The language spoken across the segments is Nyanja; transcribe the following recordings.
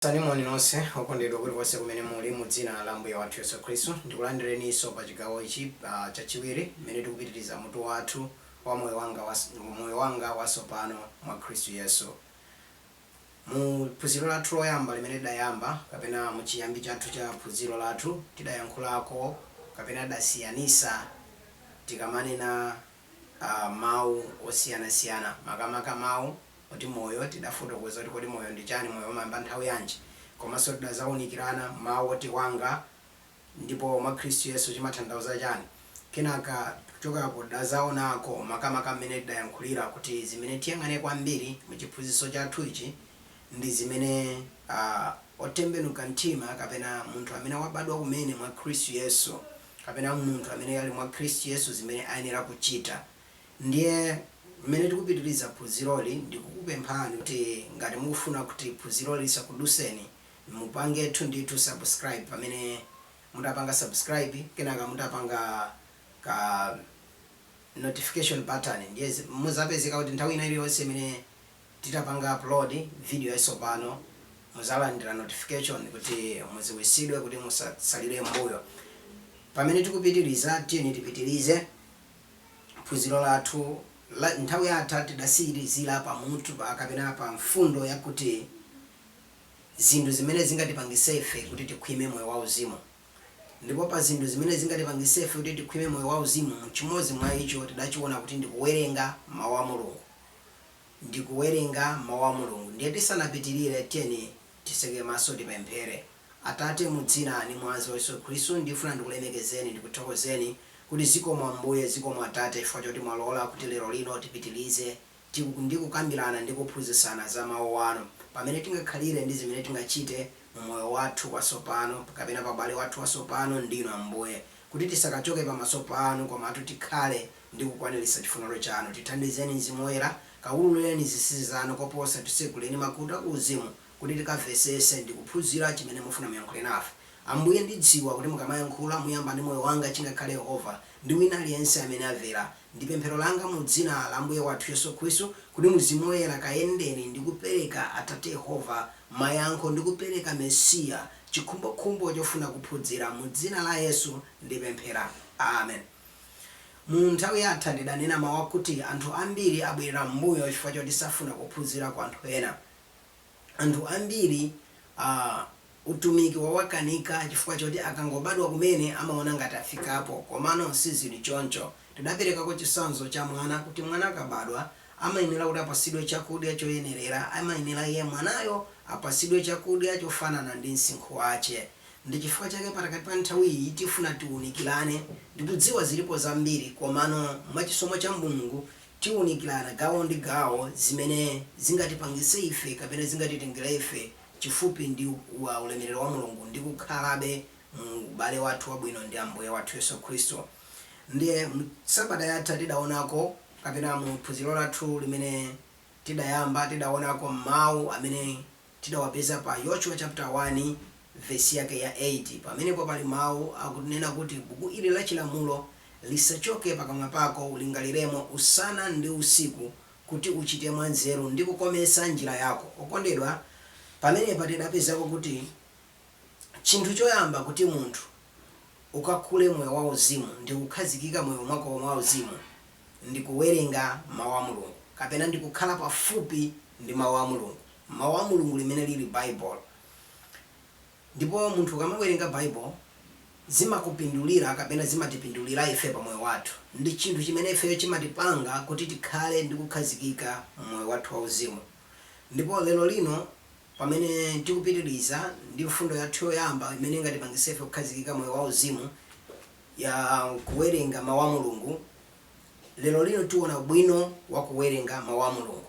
Landirani moni nonse okondedwa kulikonse kumene muli mu dzina la Ambuye wathu Yesu Khristu. Ndikulandireniso pa chigawo ichi chachiwiri mmene tikupitiriza mutu wathu wa moyo wanga wasopano mwa Khristu Yesu. Mu phunziro lathu loyamba limene tidayamba kapena mu chiyambi chathu cha phunziro lathu tidayankhulako kapena tidasiyanisa tikamanena mawu osiyanasiyana makamaka mawu oti moyo tidafotokoza kuti kodi moyo ndi chani moyo umayamba nthawi yanji komanso tidazaunikirana mawu oti wanga ndipo mwa khristu yesu chimathandauza chani kenaka kuchokapo tidazaonako makamaka mmene tidayankhulira kuti zimene tiyang'ane kwambiri mu chiphunzitso chathu ichi ndi zimene otembenuka mtima kapena munthu amene wabadwa kumene mwa khristu yesu kapena munthu amene ali mwa Khristu Yesu zimene ayenera kuchita. Ndiye mmene tikupitiriza phunziroli ndikukupemphani kuti ngati mukufuna kuti phunziroli lisakuduseni mupangetu ndithu subscribe pamene mutapanga subscribe kenaka mutapanga ka notification button ndiye muzapezeka kuti nthawi ina iliyonse imene titapanga upload video yatsopano muzalandira notification kuti mudziwitsidwe kuti musatsalire m'mbuyo pamene tikupitiliza tiyeni tipitilize phunziro lathu nthawi yatha tidasiyirizira pa mutu kapena pa mfundo yakuti zinthu zimene zingatipangitse ife kuti tikhwime moyo wauzimu ndipo pa zinthu zimene zingatipangitse ife kuti tikhwime moyo wauzimu chimodzi mwa icho tidachiona kuti ndikuwerenga mawu a mulungu ndi kuwerenga mau a Mulungu. Ndiye tisanapitirire tiyeni tiseke maso tipemphere. Atate, mu dzina ndi mwazi wa Yesu Khristu, ndifuna ndikulemekezeni, ndikuthokozeni kuti zikomo Ambuye, zikomo Atate chifukwa choti mwalola kuti lero lino tipitirize ndi kukambirana ndi kuphunzitsana za mau anu, pamene tingakhalire ndi zimene tingachite mu moyo wathu watsopano kapena pa ubale wathu watsopano ndi inu Ambuye. kuti tisakachoke pamaso panu komatu tikhale ndi kukwaniritsa chifuniro chanu. Tithandizeni Mzimu Woyera, kaululeni zinsinsi zanu koposa, titseguleni makutu a ku uzimu kuti tikamvesese ndi kuphunzira chimene mufuna muyankhule nafe. Ambuye ndidziwa kuti mukamayankhula muyamba ndi moyo wanga chingakhale Yehova ndi wina aliyense amene amvera Ndi pemphero langa mu Dzina la Ambuye wathu Yesu Khristu kuti Mzimu Woyera kayendeni ndi kupereka Atate Yehova mayankho ndi kupereka Mesiya chikhumbokhumbo chofuna kuphudzira. Mu Dzina la Yesu ndipemphera. Amen. Mu nthawi yatha ndidanena mau akuti anthu ambiri abwerera m'mbuyo chifukwa choti safuna kuphunzira kwa anthu ena. anthu ambiri utumiki wawakanika chifukwa choti akangobadwa kumene amaona ngati afikapo komano sizili choncho. Tidaperekako chitsanzo cha mwana kuti mwana akabadwa amayenera kuti apatsidwe chakudya choyenerera, amayenera iye mwanayo apatsidwe chakudya chofanana ndi msinkhu wache. Ndi chifukwa chake pakati pa nthawi iyi tifuna tiunikirane. Ndikudziwa zilipo zambiri komano mwa chisomo cha Mulungu tiunikirana gawo ndi gawo zimene zingatipangise ife kapena zingatitengere ife chifupi ndi ulemerero wa Mulungu ndi kukhalabe mu ubale wathu wabwino ndi Ambuye wathu Yesu Khristu. Ndiye mu sabata yatha tidaonako kapena mu phunziro lathu limene tidayamba tidaonako mau amene tidawapeza pa Yoshua chapter 1 verse yake ya 8. Pamenepo pali mau akunena kuti buku ili la chilamulo lisachoke pakamwa pako, ulingaliremo usana ndi usiku, kuti uchite mwanzeru, ndi kukometsa njira yako. Okondedwa, pamenepa tidapezako kuti chinthu choyamba kuti munthu ukakule moyo wauzimu ndi kukhazikika moyo mwako wauzimu, ndi kuwerenga Mawu a Mulungu, kapena ndi kukhala pafupi ndi Mawu a Mulungu, Mawu a Mulungu limene lili Bible. Ndipo munthu ukamawerenga Bible, zimakupindulira kapena zimatipindulira ife pa moyo wathu. Ndi chinthu chimene ifeyo chimatipanga kuti tikhale ndi kukhazikika moyo wathu wa uzimu. Ndipo lero lino. Pamene tikupitiriza ndi mfundo yathu yoyamba imene ingatipangitse ife kukhazikika moyo wa uzimu ya kuwerenga mawu a Mulungu, lero lino tiona ubwino wa kuwerenga mawu a Mulungu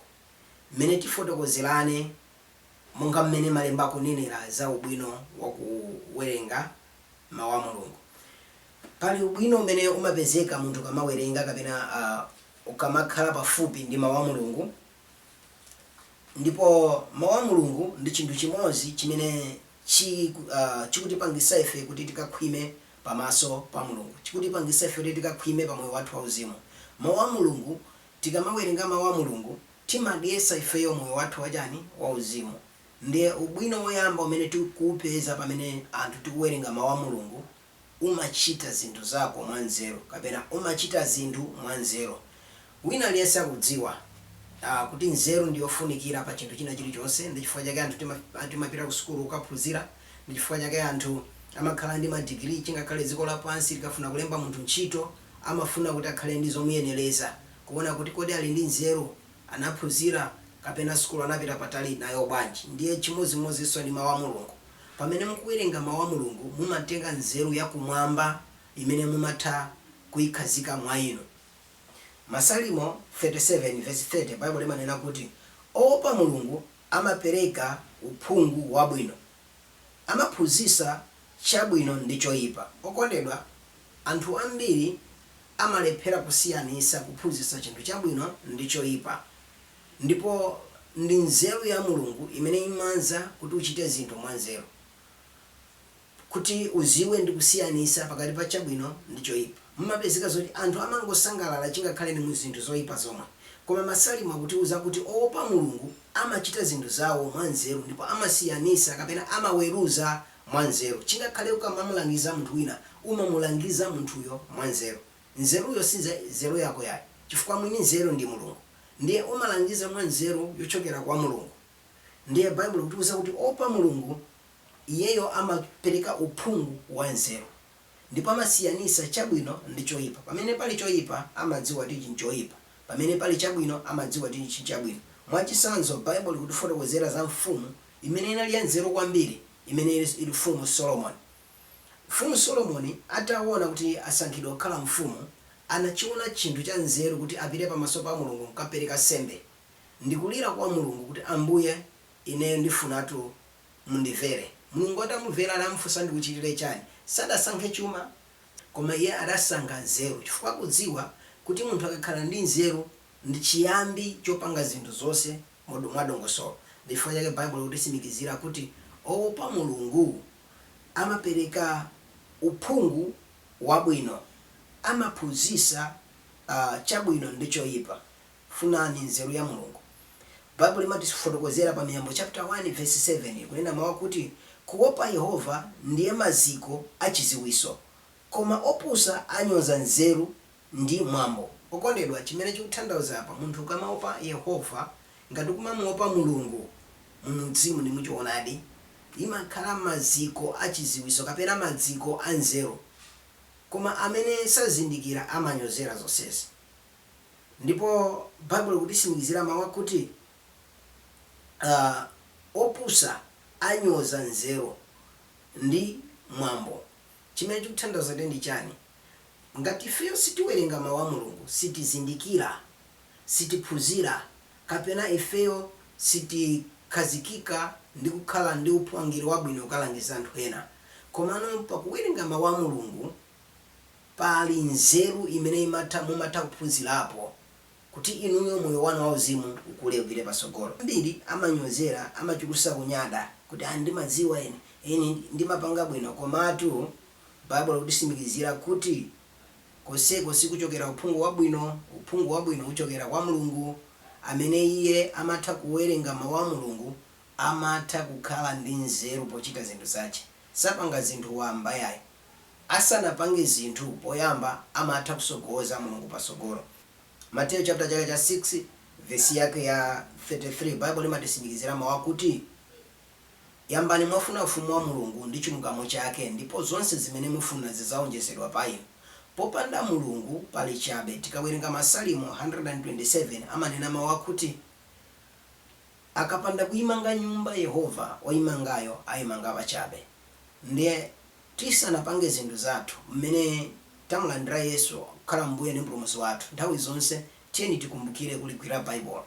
mmene tifotokozerane monga mmene malemba akunenera za ubwino wa kuwerenga mawu a Mulungu. Pali ubwino umene umapezeka munthu ukamawerenga kapena ukamakhala pafupi ndi mawu a Mulungu. Ndipo Mawu a Mulungu ndi chinthu chimodzi chimene chi, uh, chikutipangitsa ife kuti tikakhwime pamaso pa Mulungu, chikutipangitsa ife kuti tikakhwime pa moyo wathu wauzimu. Mawu a Mulungu, tikamawerenga Mawu a Mulungu, timadyetsa ifeyo moyo wathu wachani? Wauzimu. Ndiye ubwino woyamba umene tikuwupeza pamene anthu tikuwerenga Mawu a Mulungu, umachita zinthu zako mwanzeru kapena umachita zinthu mwanzeru. Wina aliyense akudziwa uh, kuti nzeru ndi yofunikira pa chinthu china chilichonse. Ndi chifukwa chake anthu tima, ah, timapita ku sukulu kukaphunzira. Ndi chifukwa chake anthu amakhala ndi madigiri. Chingakhale dziko lapansi likafuna kulemba munthu ntchito, amafuna kuti akhale ndi zomuyenereza, kuona kuti kodi ali ndi nzeru, anaphunzira kapena sukulu anapita patali nayo bwanji. Ndiye chimodzimodzinso ndi Mawu a Mulungu. Pamene mukuwerenga Mawu a Mulungu, mumatenga nzeru ya kumwamba imene mumatha kuikhazika mwa inu. Masalimo 37 vesi 30, Baibulo limanena kuti oopa Mulungu amapereka uphungu wabwino. Amaphunzitsa chabwino ndi choipa. Okondedwa, anthu ambiri amalephera kusiyanitsa kuphunzitsa chinthu chabwino ndi choipa. Ndipo ndi nzeru ya Mulungu imene imanza kuti uchite zinthu mwanzeru, kuti uziwe ndi kusiyanisa pakati pa chabwino ndi choipa. Mumapezeka zoti anthu amangosangalala chingakhale ndi zinthu zoipa zomwe. Koma Masalimo akutiuza kuti oopa Mulungu amachita zinthu zawo mwanzeru ndipo amasiyanisa kapena amaweruza mwanzeru. Chingakhale ukamamulangiza munthu wina umamulangiza munthuyo mwanzeru. Nzeruyo si nze, zeru yako yayi chifukwa mwini nzeru ndi Mulungu. ndiye umalangiza mwa nzeru yochokera kwa Mulungu. Ndiye Baibulo likutiuza kuti oopa Mulungu, iyeyo amapereka uphungu wa nzeru. Ndipo amasiyanitsa chabwino ndi choipa. Pamene pali choipa, amadziwa kuti ichi nchoipa. Pamene pali chabwino, amadziwa kuti ichi nchabwino. Mwachitsanzo, Baibulo likutifotokozera za mfumu imene inali yanzeru kwambiri imene ili Mfumu Solomoni. Mfumu Solomoni ataona kuti asankhidwa kukhala mfumu, anachiona chinthu cha nzeru kuti apite pamaso pa Mulungu n'kukapereka nsembe ndi kulira kwa Mulungu kuti, Ambuye, ineyo ndifunatu mundimvere. Mulungu atamumvera anamufunsa, Ndikuchitire chani? Sadasankhe chuma, koma iye adasankha nzeru chifukwa akudziwa kuti munthu akakhala ndi nzeru ndi chiyambi chopanga zinthu zonse mwadongosolo. Ndi chifukwa chake Baibulo likutitsimikizira kuti, Oopa Mulungu. amapereka uphungu wabwino, amaphunzitsa chabwino ndi choyipa. Funani nzeru ya Mulungu. Baibulo limatifotokozera pa Miyambo chaputala 1 vesi 7 kunena mawu akuti, Kuopa Yehova ndiye maziko a chidziwitso, koma opusa anyoza nzeru ndi mwambo. Okondedwa, chimene chikuthandauza apa, munthu ukamaopa Yehova, ngati ukumamuopa Mulungu mu mzimu ndi muchoonadi, imakhala maziko a chiziwiso kapena madziko a nzeru. Koma amene sazindikira amanyozera zonsezi. Ndipo Baibulo likutisimikizira mau akuti opusa anyoza nzeru ndi mwambo. Chimene chikuthandauza ndiye ndi chani? Ngati ifeyo sitiwerenga Mau a Mulungu, sitizindikira, sitiphunzira, kapena ifeyo sitikhazikika ndi kukhala ndi uphungu wabwino kukalangiza anthu ena. Komano pakuwerenga Mau a Mulungu pali nzeru imene imatha mumatha kuphunzirapo kuti inuyo moyo wanu wauzimu ukule upite patsogolo. Ambiri amanyozera, amachulutsa kunyada kuti, ah ndimadziwa ine, ine ndimapanga bwino. Komatu Baibulo likutisimikizira kuti, Konseko sikuchokera uphungu wabwino, uphungu wabwino uchokera kwa Mulungu. Amene iye amatha kuwerenga Mawu a Mulungu amatha kukhala ndi nzeru pochita zinthu zache. Sapanga zinthu wamba yayi. Asanapange zinthu poyamba amatha kutsogoza Mulungu patsogolo. Mateyu chapter chake cha 6 vesi yake ya 33 Baibulo limatisimikizira Mawu akuti. Yambani mwafuna Ufumu wa Mulungu ndi chilungamo chake ndipo zonse zimene mufuna zidzawonjezedwa pa inu. Popanda Mulungu pali chabe. Tikawerenga Masalimo 127 amanena mau akuti Akapanda kuyimanga nyumba Yehova, oyimangayo ayimanga pachabe. Ndiye tisanapange zinthu zathu, mmene tamulandira Yesu kukhala Mbuye ndi Mpulumutsi wathu, nthawi zonse tiyeni tikumbukire kuligwira Baibulo.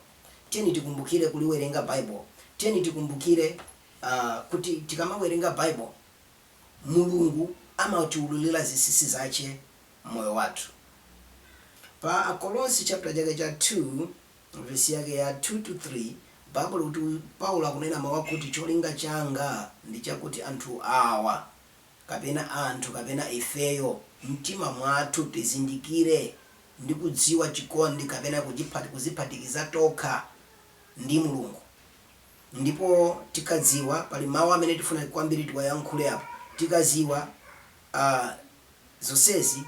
Tiyeni tikumbukire kuliwerenga Baibulo. Tiyeni tikumbukire uh, kuti tikamawerenga Baibulo Mulungu amatiululira zinsinsi zache m'moyo wathu. Pa Akolose chapter chake cha 2 vesi yake ya 2 to 3 Baibulo kuti Paulo akunena mawu akuti cholinga changa ndi chakuti anthu awa kapena anthu kapena ifeyo m'mtima mwathu tizindikire ndi kudziwa chikondi kapena kuziphatikiza tokha ndi Mulungu ndipo tikadziwa pali mawu amene tifuna kwambiri tiwayankhule apa tikadziwa a zonsezi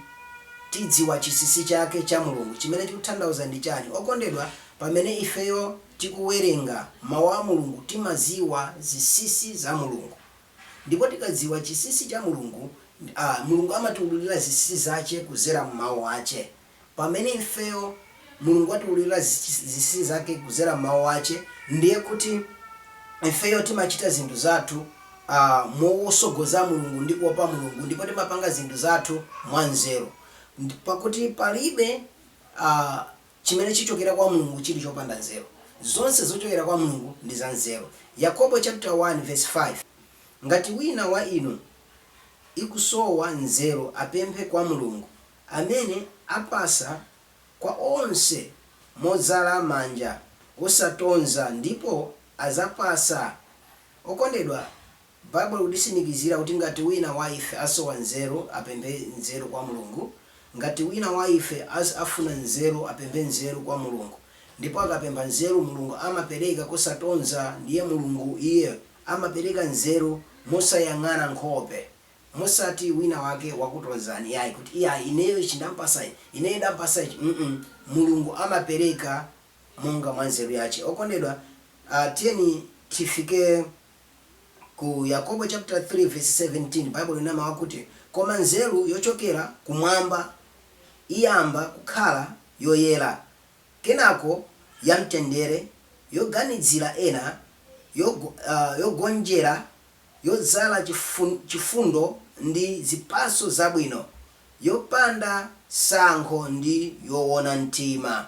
tidziwa chinsinsi chake cha Mulungu chimene chikutanthauza ndi chani okondedwa pamene ifeyo tikuwerenga mawu a Mulungu timadziwa zinsinsi za Mulungu Ndipo tikadziwa chinsinsi cha Mulungu, a, Mulungu amatiululira zinsinsi zache kudzera mu Mawu ache. Pamene ifeyo, Mulungu atiululira zinsinsi zake kudzera mu Mawu ache, ndiye kuti ifeyo timachita zinthu zathu, a, motsogoza Mulungu ndi kuopa Mulungu, ndipo timapanga zinthu zathu mwanzeru. Ndi, pakuti palibe, a. Chimene chichokera kwa Mulungu chili chopanda nzeru. Zonse zochokera kwa Mulungu ndi za nzeru. Yakobo chaputala 1 vesi 5 Ngati wina wa inu ikusowa nzeru apemphe kwa Mulungu, amene apatsa kwa onse modzala manja, osatonza, ndipo adzapatsa. Okondedwa, Bible ikutisimikizira kuti ngati wina wa ife asowa nzeru, apemphe nzeru kwa Mulungu, ngati wina wa ife as afuna nzeru, apemphe nzeru kwa Mulungu, ndipo akapempha nzeru, Mulungu amapereka kosatonza ndiye Mulungu Iye amapereka nzeru mosayang'ana nkhope, mosati wina wake wakutonzani yayi kuti iyayi ineyo ichi ndampasa ineyo ndampasa ichi mm Mulungu amapereka monga mwa nzeru yache. Okondedwa, tiyeni tifike. Ku Yakobo chapter 3 verse 17 Baibulo lina mawu akuti, Koma nzeru yochokera Kumwamba iyamba kukhala yoyera, kenako yamtendere, yoganidzira ena, yogonjera, yodzala chifundo ndi zipatso zabwino, yopanda tsankho ndi yowona mtima.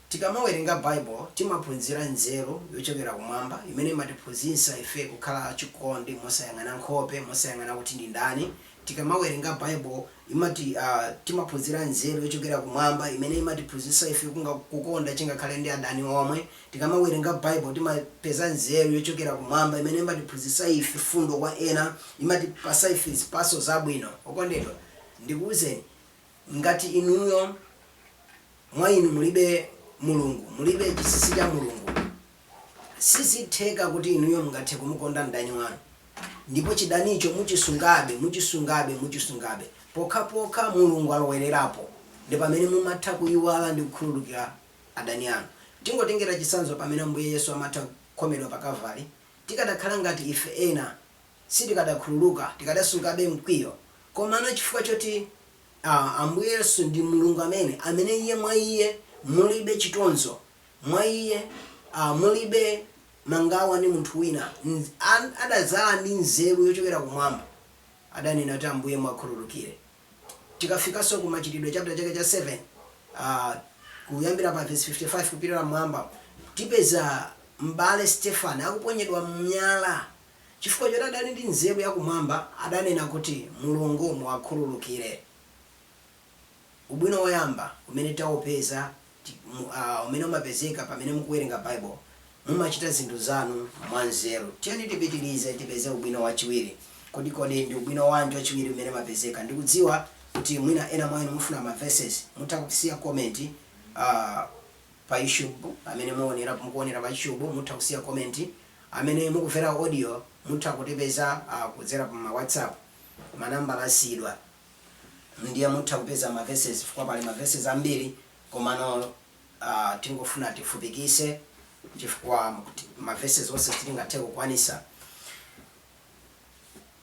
Tikamawerenga Bible, timaphunzira nzeru yochokera kumwamba imene imatiphunzitsa ife kukhala achikondi mosayang'ana nkhope, mosayang'ana kuti ndi ndani. Tikamawerenga Bible, imati a, timaphunzira nzeru yochokera kumwamba imene imatiphunzitsa ife kunga, kukonda chingakhale ndi adani omwe. Tikamawerenga Bible, timapeza nzeru yochokera kumwamba imene imatiphunzitsa ife chifundo kwa ena, imatipatsa ife zipatso zabwino. Okondedwa, ndikuuzeni. Ngati inuyo, mwa inu mulibe Mulungu, mulibe chisisi cha Mulungu, sizitheka kuti inuyo mungathe kumukonda mdani wanu, ndipo chidanicho muchisungabe, muchisungabe, muchisungabe. Pokhapokha Mulungu alowererapo, ndi pamene mumatha kuiwala ndi kukhululukira adani anu. Tingotengera chitsanzo pamene Ambuye Yesu amatha kukhomedwa pa Kavale, tikadakhala ngati ife ena, sitikadakhululuka, tikadasungabe mkwiyo, komano chifukwa choti a, Ambuye Yesu ndi Mulungu amene, amene Iye mwa Iye mulibe chitonzo, mwa Iye a, mulibe mangawa ndi munthu wina, nz, a, adadzala ndi nzeru yochokera kumwamba, adanena kuti, Ambuye muwakhululukire. Tikafikanso ku Machitidwe chapter chake cha 7, a, kuyambira pa verse 55 kupitira m'mwamba, tipeza M'bale Stefani akuponyedwa miyala. Chifukwa choti adali ndi nzeru ya kumwamba, adanena kuti, Mulungu muwakhululukire. Ubwino woyamba umene taupeza ndi, uh, umene umapezeka pamene mukuwerenga Bible, mumachita zinthu zanu mwanzeru. Tiyeni tipitirize tipeze ubwino wachiwiri. Kodi, kodi ndi ubwino wanji wachiwiri umene umapezeka? Ndikudziwa kuti mwina ena mwa inu mufuna ma verses. Mutha kusiya comment, uh, pa YouTube pamene muonera, mukuonera pa YouTube mutha kusiya comment. Amene mukuvera audio mutha kutipeza kudzera pa whatsapp ma number asiyidwa ndiye mutha kupeza ma verses chifukwa pali ma verses ambiri komano tingofuna tifupikise chifukwa ma verses onse sitingathe kukwanisa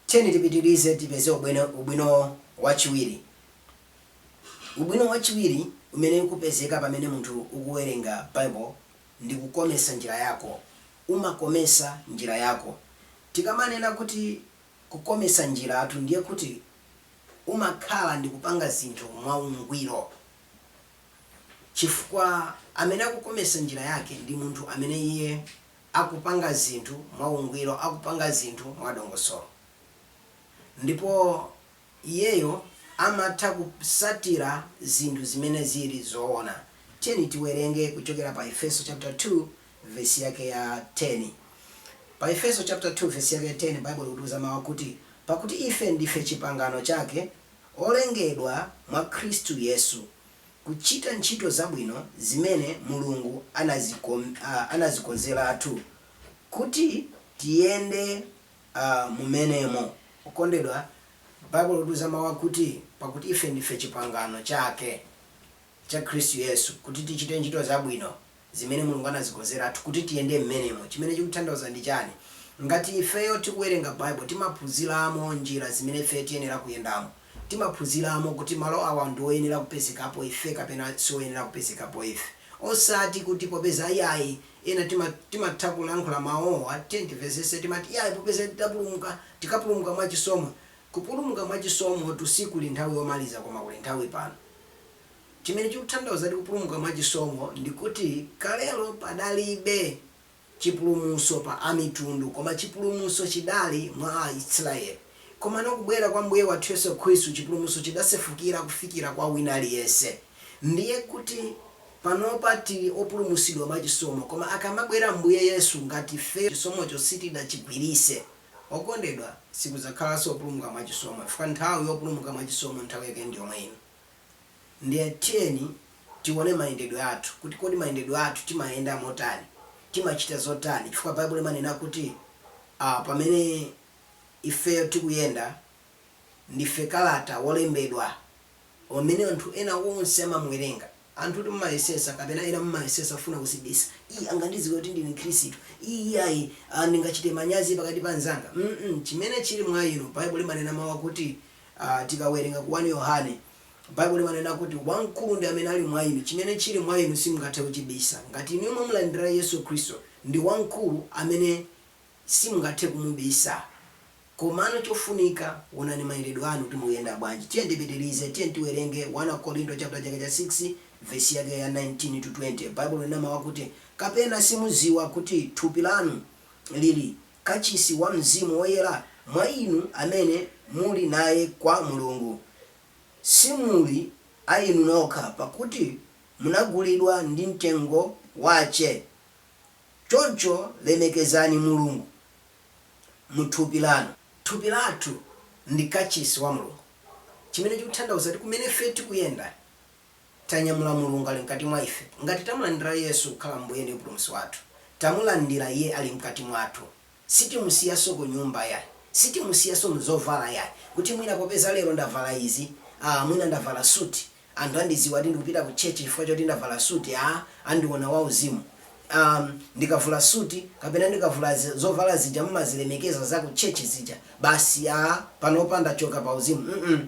tiyeni tipitilize tipeze ubwino wachiwiri ubwino wachiwiri umene ukupezeka pamene munthu ukuwerenga bible ndi kukomesa njira yako. Umakomesa njira yako. Tikamanena kuti kukomesa njiratu ndiye kuti umakhala ndi kupanga zinthu mwa ungwiro chifukwa amene akukomesa njira yake ndi munthu amene iye akupanga zinthu mwa ungwiro, akupanga zinthu mwa dongosolo ndipo. Iyeyo amatha kusatira zinthu zimene ziri zoona. Tiyeni tiwerenge kuchokera pa Efeso chapter 2 vesi yake ya 10. Pa Efeso chapter 2 vesi yake ya 10 Baibulo likutiuza mau akuti, Pakuti ife ndife chipangano chake, olengedwa mwa Khristu Yesu, kuchita ntchito zabwino zimene Mulungu anazikonzeratu kuti tiyende mumenemo. Okondedwa, Baibulo likutiuza mau akuti, Pakuti ife ndife chipangano chake, cha Khristu Yesu, kuti tichite ntchito zabwino, zimene Mulungu anazikonzeratu kuti tiyende m'menemo. Chimene chikuthandauza ndi chani? Ngati ifeyo tikuwerenga Baibulo, timaphunziramo njira zimene ifeyo tiyenera kuyendamo. Timaphunziramo kuti malo awa ndi oyenera kupezekapo ife kapena sioyenera kupezekapo ife. Osati kuti popeza iyayi Ena timat timatha kulankhula mau awa tiyeni tivesese timat iyayi popeza tidapulumuka tikapulumuka mwa chisomo kupulumuka mwa chisomotu sikuli nthawi yomaliza koma kuli nthawi pano chimene chikuthandauza kupulumuka mwa chisomo ndikuti kalelo padalibe chipulumuso pa amitundu koma chipulumuso chidali mwa a Isiraeli komano kubwera kwa mbuye wathu yesu khristu chipulumuso chidasefukira kufikira kwa wina aliyense ndiye kuti Panopa tili opulumusidwa mwa chisomo koma akamabwera Ambuye Yesu ngati ifeyo chisomocho sitidachigwirise okondedwa sikuzakhalaso opulumuka mwa chisomo chifukwa nthawi yopulumuka mwa chisomo nthawi yake ndiyomwe ino ndiye tiyeni tione mayendedwe athu kuti kodi mayendedwe athu timayenda motani timachita zotani chifukwa Bible limanena kuti pamene ifeyo tikuyenda ndife kalata wolembedwa amene anthu ena onse amamuwerenga. Anthu timayesesa kapena ena mumayesesa kufuna kuzibisa, ii angandiziwe kuti ndine Mkhristu, ii iyayi aah ndingachite manyazi pakati pa anzanga mm chimene chili mwa inu Bible limanena mau akuti aah tikawerenga ku 1 Yohane Bible limanena kuti wamkulu ndi amene ali mwa inu chimene chili mwa inu simungathe kuchibisa ngati inuyo mwamulandira Yesu Khristu ndi wamkulu amene simungathe kumubisa. Komano chofunika, wonani mayendedwe anu kuti mukuyenda bwanji. Tiyeni tipitirize. Tiyeni tiwerenge 1 Akorinto chaputala chake cha 6 vesi yake ya 19 to 20. Baibulo linena mawu akuti, Kapena simudziwa kuti thupi lanu liri kachisi wa Mzimu Woyera mwa inu amene muli naye kwa Mulungu? Simuli a inu nokha, pakuti munagulidwa ndi mtengo wache. Choncho lemekezani Mulungu muthupi lanu. Thupi lathu ndi kachisi wa Mulungu chimene chikuthandauza kuti kumene ife tikuyenda tanyamula Mulungu ali mkati mwa ife. Ngati tamulandira Yesu kukhala Mbuye ndi Mpulumutsi wathu, tamulandira Iye ali mkati mwathu. Sitimusiyanso kunyumba yayi. Sitimusiyanso mzovala yayi. Kuti mwina popeza lero ndavala izi, ah mwina ndavala suti, Anthu andidziwa kuti ndikupita ku church chifukwa choti ndavala suit ya, andiona wauzimu. Umm, ndikavula suit kapena ndikavula zovala zija mumazilemekeza za ku church zija, basi ya, panopa ndachoka pa uzimu, mm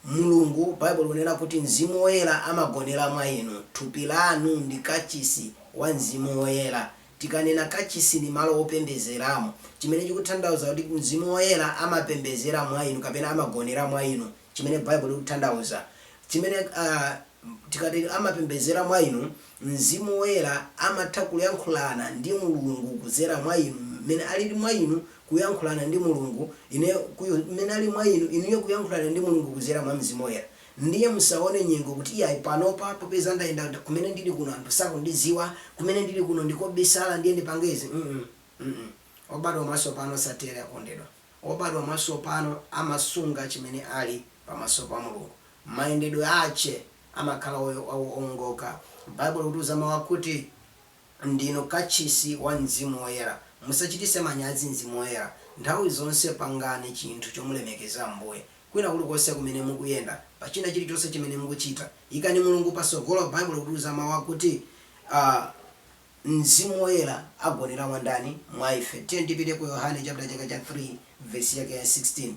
Mulungu, Bible likunena kuti Mzimu Woyera amagonera mwa inu, thupi lanu ndi kachisi wa Mzimu Woyera. Tikanena kachisi ndi malo opembedzeramo, chimene chikuthandauza kuti Mzimu Woyera amapembedzera mwa inu kapena amagonera mwa inu. chimene Baibulo likuthandauza, chimene a, tikati amapembedzera mwa inu, Mzimu Woyera amatha kuyankhulana ndi Mulungu kudzera mwa inu, mmene ali mwa inu kuyankhulana ndi Mulungu, ine, ku, mmene ali mwa inu, inuyo kuyankhulana ndi Mulungu kudzera mwa Mzimu Woyera. Ndiye musaone nyengo kuti iyayi, panopa popeza ndayenda kumene ndiri kuno anthu sakundidziwa, kumene ndiri kuno ndi kobisala ndiye ndipange izi, mm obadwa mwatsopano satero akondedwa. obadwa mwasopano amasunga chimene ali pamaso pa Mulungu. Mayendedwe ache amakhala oongoka. Baibulo likutiuza mau akuti, Ndinu kachisi wa Mzimu Woyera. Musachitise manyazi Mzimu Woyera. Nthawi zonse pangani chinthu chomulemekeza Ambuye. Kwina kuli konse kumene mukuyenda, pa china chiri chonse chimene mukuchita, ikani Mulungu pasogolo. Baibulo likutiuza mau akuti, a. Mzimu Woyera agonera mwa ndani? Mwa ife. Tiyeni tipite ku Yohane chaputala chake cha 3 vesi yake ya 16.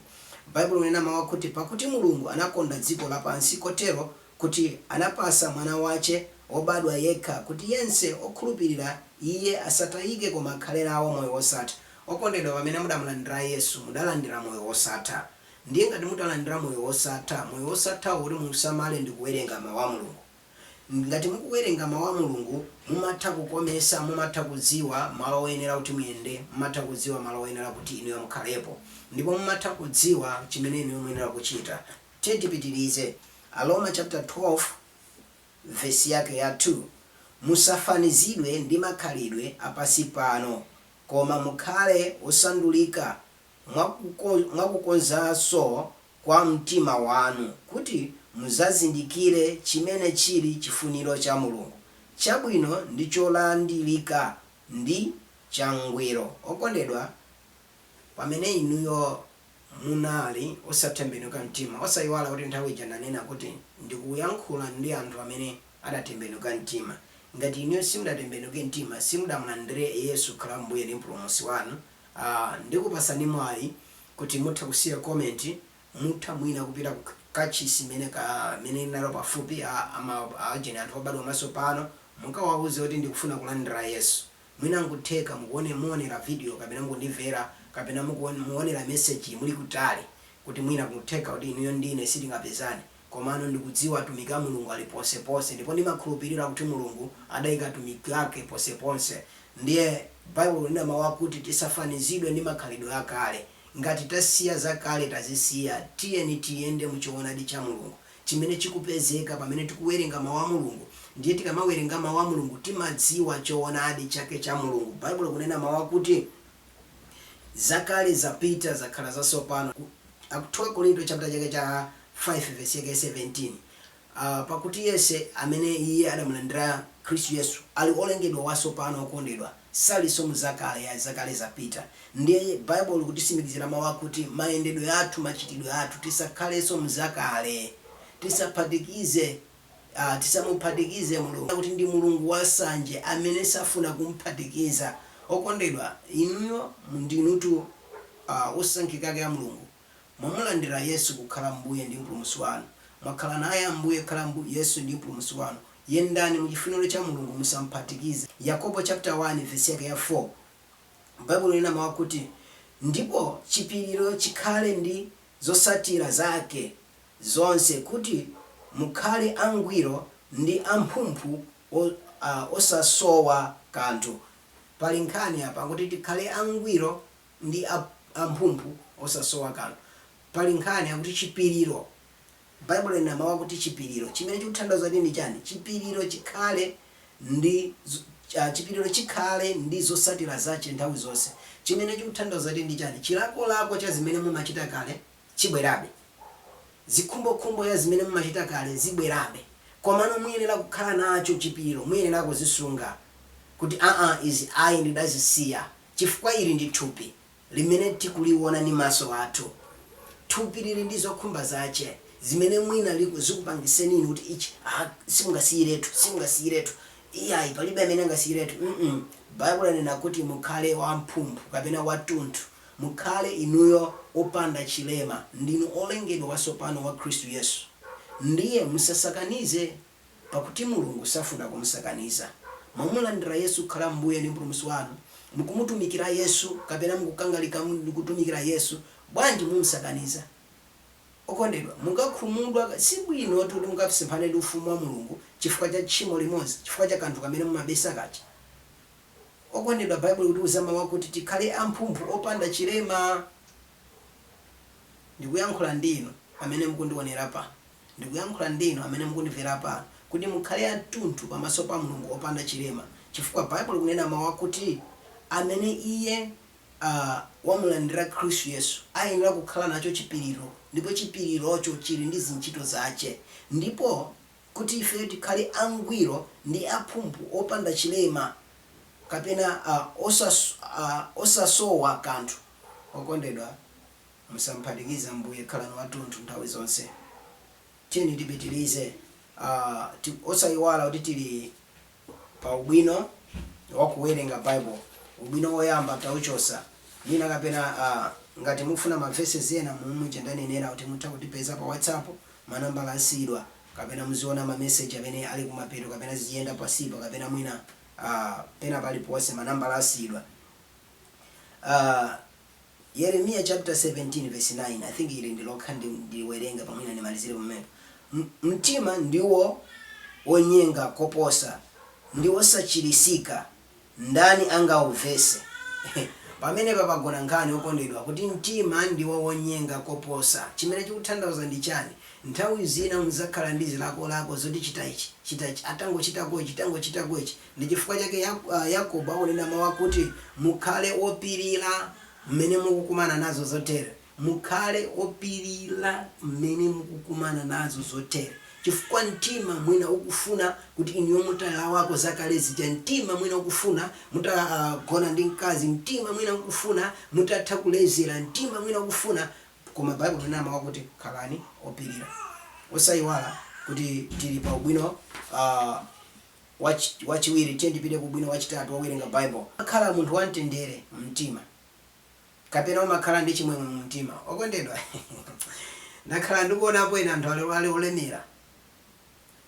Baibulo linena mau akuti, Pakuti Mulungu anakonda dziko lapansi kotero, kuti anapasa Mwana wache wobadwa yekha, kuti yense okhulupirira Iye asatayike koma akhale nawo moyo wosatha. Okondedwa, pamene mudamulandira Yesu, mudalandira moyo wosatha. Ndiye ngati mutalandira moyo wosatha, moyo wosathawo kuti muusamale ndi kuwerenga Mau a Mulungu. Ngati mukuwerenga mau a Mulungu mumatha kukomesa, mumatha kudziwa malo oyenera kuti muyende, mumatha kudziwa malo oyenera kuti inuyo mukhalepo ndipo mumatha kudziwa chimene inuyo muyenera kuchita. Tiyeni tipitirize, Aroma chaputala 12 vesi yake ya 2 Musafanizidwe ndi makhalidwe a pansi pano, koma mukhale osandulika mwa kukonzanso kwa mtima wanu, kuti mudzazindikire chimene chili chifuniro cha Mulungu, chabwino ndi cholandirika ndi changwiro. Okondedwa, pamene inuyo munali osatembenuka mtima, osaiwala kuti nthawi ija ndanena kuti ndikuyankhula ndi anthu amene adatembenuka mtima, ngati inuyo simudatembenuke mtima, simudamulandire Yesu kukhala Mbuye ndi Mpulumutsi wanu, Aaa ndikupasani mwayi kuti mutha kusiya comment mutha mwina kupita ku kachisi imene ka imene muli nayo pafupi a ama agent anthu obadwa mwasopano mukawauze kuti ndikufuna kulandira yesu mwina nkutheka mukuone muonera video kapena mukundivera kapena mukuon muonera message yi muli kutali kuti mwina kutheka kuti inuyo ndine sitingapezane Komano ndikudziwa atumiki a Mulungu ali ponseponse, ndipo ndimakhulupirira kuti Mulungu adaika atumiki ake ponseponse. Ndiye, Baibulo likunena mawu akuti tisafanizidwe ndi makhalidwe akale. Ngati tasiya zakale tazisiya, tiyeni tiyende mu choonadi cha Mulungu chimene chikupezeka pamene tikuwerenga mawu a Mulungu. Ndiye tikamawerenga mawu a Mulungu timadziwa choonadi chake cha Mulungu. Baibulo likunena mawu akuti. Zakale zapita, zakhala zasopano, Ak 2 Akorinto chaputala chake cha 5 vesi yake ya 17 a pakuti yense amene iye adamulandira Khristu Yesu ali olengedwa wasopano okondedwa salinso mu zakale ya zakale zapita ndiye Baibulo likutitsimikizira mau akuti mayendedwe athu machitidwe athu tisakhalenso mzakale tisaphatikize Tisamuphatikize Mulungu, pakuti ndi Mulungu wansanje amene safuna kum'phatikiza. Okondedwa, inuyo ndinutu osankhika ake a Mulungu. Mwamulandira Yesu kukhala Mbuye ndi Mpulumutsi wanu. Mwakhala naye Ambuye kukhala Yesu ndi Mpulumutsi wanu. Yendani mu chifuniro cha Mulungu, musam'phatikize. Yakobo chaputala 1 vesi yake ya 4, Baibulo likunena mau akuti, Ndipo chipiriro chikhale ndi zotsatira zake. zonse kuti mukhale angwiro ndi amphumphu osasowa kanthu. Pali nkhani apa kuti tikhale angwiro ndi amphumphu osasowa kanthu. Pali nkhani yakuti chipiriro. Baibulo linena mawu akuti chipiriro. Chimene chikuthandauza kuti ndi chani? Chipiriro chikhale ndi chipiriro chikhale ndi zotsatira zache nthawi zonse. Chimene chikuthandauza kuti ndi chani? Chilakolako cha zimene mumachita kale chibwerabe. Zikhumbokhumbo ya zimene mumachita kale zibwerabe. Komano muyenera kukhala nacho chipiriro, muyenera kuzisunga kuti aa izi ayi ndidazisiya chifukwa ili ndi thupi limene tikuliona ndi maso athu. Thupi lili ndi zokhumba zache zimene mwina zikupangiseni inu kuti ichi aa simungasiyiretu, simungasiyiretu, iyayi palibe amene angasiyiretu mm Baibulo lanena kuti mukhale wamphumphu kapena watunthu. mukhale inuyo opanda chilema, ndinu olengedwa watsopano wa Khristu Yesu. Ndiye musasakanize, pakuti Mulungu safuna kumusakaniza. Mwamulandira Yesu kukhala Mbuye ndi Mpulumutsi wanu, mukumutumikira Yesu, kapena mukukangalika kutumikira Yesu, bwanji mumsakaniza? Okondedwa, mungakhumudwe, sibwinotu kuti mukasemphane ndi Ufumu wa Mulungu chifukwa cha tchimo limodzi, chifukwa cha kanthu kamene mumabisa kaja. Okondedwa, Baibulo likutiuza mawu akuti tikhale amphumphu, opanda chilema. Ndikuyankhula ndi inu amene mukundionera pano. Ndikuyankhula ndi inu amene mukundimvera pano kuti mukhale atunthu pamaso pa Mulungu opanda chilema chifukwa Baibulo likunena mawu akuti amene iye, a, wamulandira Khristu Yesu ayenera kukhala nacho chipiriro ndipo chipirirocho chiri ndi zintchito zache ndipo. kuti ife tikhale angwiro ndi amphumphu, opanda chilema kapena osasowa kanthu. Okondedwa, musam'phatikize Ambuye, khalani watunthu nthawi zonse. Tiyeni tipitirize, osaiwala kuti tili. Pa ubwino wa kuwerenga Baibo, ubwino woyamba tauchosa. Mwina kapena a ngati mukufuna ma Verses ena momwe muja ndanenera kuti mutha kutipeza pa Whatsapp, ma nambala asiyidwa, kapena muziona ma Message amene ali kumapeto kapena ziziyenda pansipa kapena mwina a pena paliponse ma nambala asiyidwa. A. Yeremiya chapter 17 verse 9, I think ili ndilokha ndi ndiwerenga pa mwina ndimalizire pamenepo. M mtima ndiwo wonyenga koposa, ndi wosachiritsika, ndani angauvese? Pamenepa pagona nkhani okondedwa kuti mtima ndiwo wonyenga koposa. Chimene chikuthandauza ndi chani? Nthawi zina mudzakhala ndi zilakolako zoti chita ichi, chita ichi, tangochitako ichi, tangochitako ichi, Ndi chifukwa chake Yakobo akunena mawu akuti, Mukhale opirira mmene mukukumana nazo zotere. Mukhale opirira mmene mukukumana nazo zotere. Chifukwa mtima mwina ukufuna kuti inuyo mutalawako zakale zija. Mtima mwina ukufuna mutagona ndi mkazi. Mtima mwina ukufuna mutatha kulezera. Mtima mwina ukufuna. Koma Baibulo likunena mawu akuti, Khalani opirira. Osaiwala kuti tili pa ubwino. Wachiwiri, tiyeni tipite ku ubwino wachitatu wowerenga Baibulo. Umakhala munthu wamtendere mumtima, kapena umakhala ndi chimwemwe mumtima. Okondedwa, ndakhala ndikuonapo ena anthu ali olemera,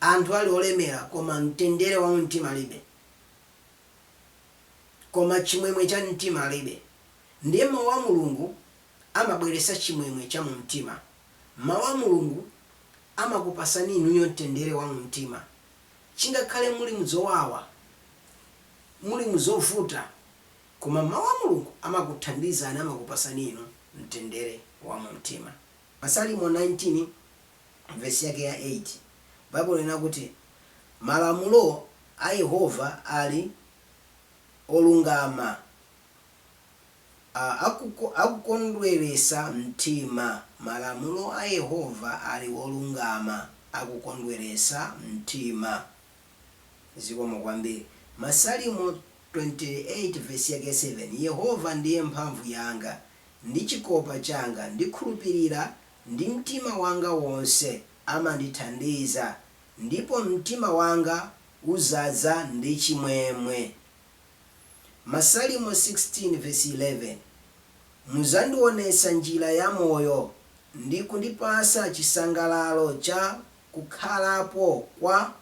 anthu ali olemera koma mtendere wa mumtima alibe, koma chimwemwe cha mtima alibe. Ndiye Mau a Mulungu amabweretsa chimwemwe cha mumtima. Mau a Mulungu amakupasani inuyo mtendere wa mumtima. chingakhale muli muzowawa, muli muzovuta, koma mau a Mulungu amakuthandizani amakupasani inu mtendere wa mumtima. Masalimo 19 vesi yake ya 8 Baibulo linena kuti malamulo a Yehova ali olungama. akukondweretsa mtima. Malamulo a Yehova ali olungama, akukondweretsa mtima. Zikomo kwambiri. Masalimo 28 vesi yake 7 Yehova ndiye mphamvu yanga, ndi chikopa changa, ndikhulupirira ndi mtima wanga wonse, amandithandiza, ndipo mtima wanga udzadza ndi chimwemwe. Masalimo 16 vesi 11 Muzandionesa njira ya moyo ndi kundipasa chisangalalo cha kukhalapo kwa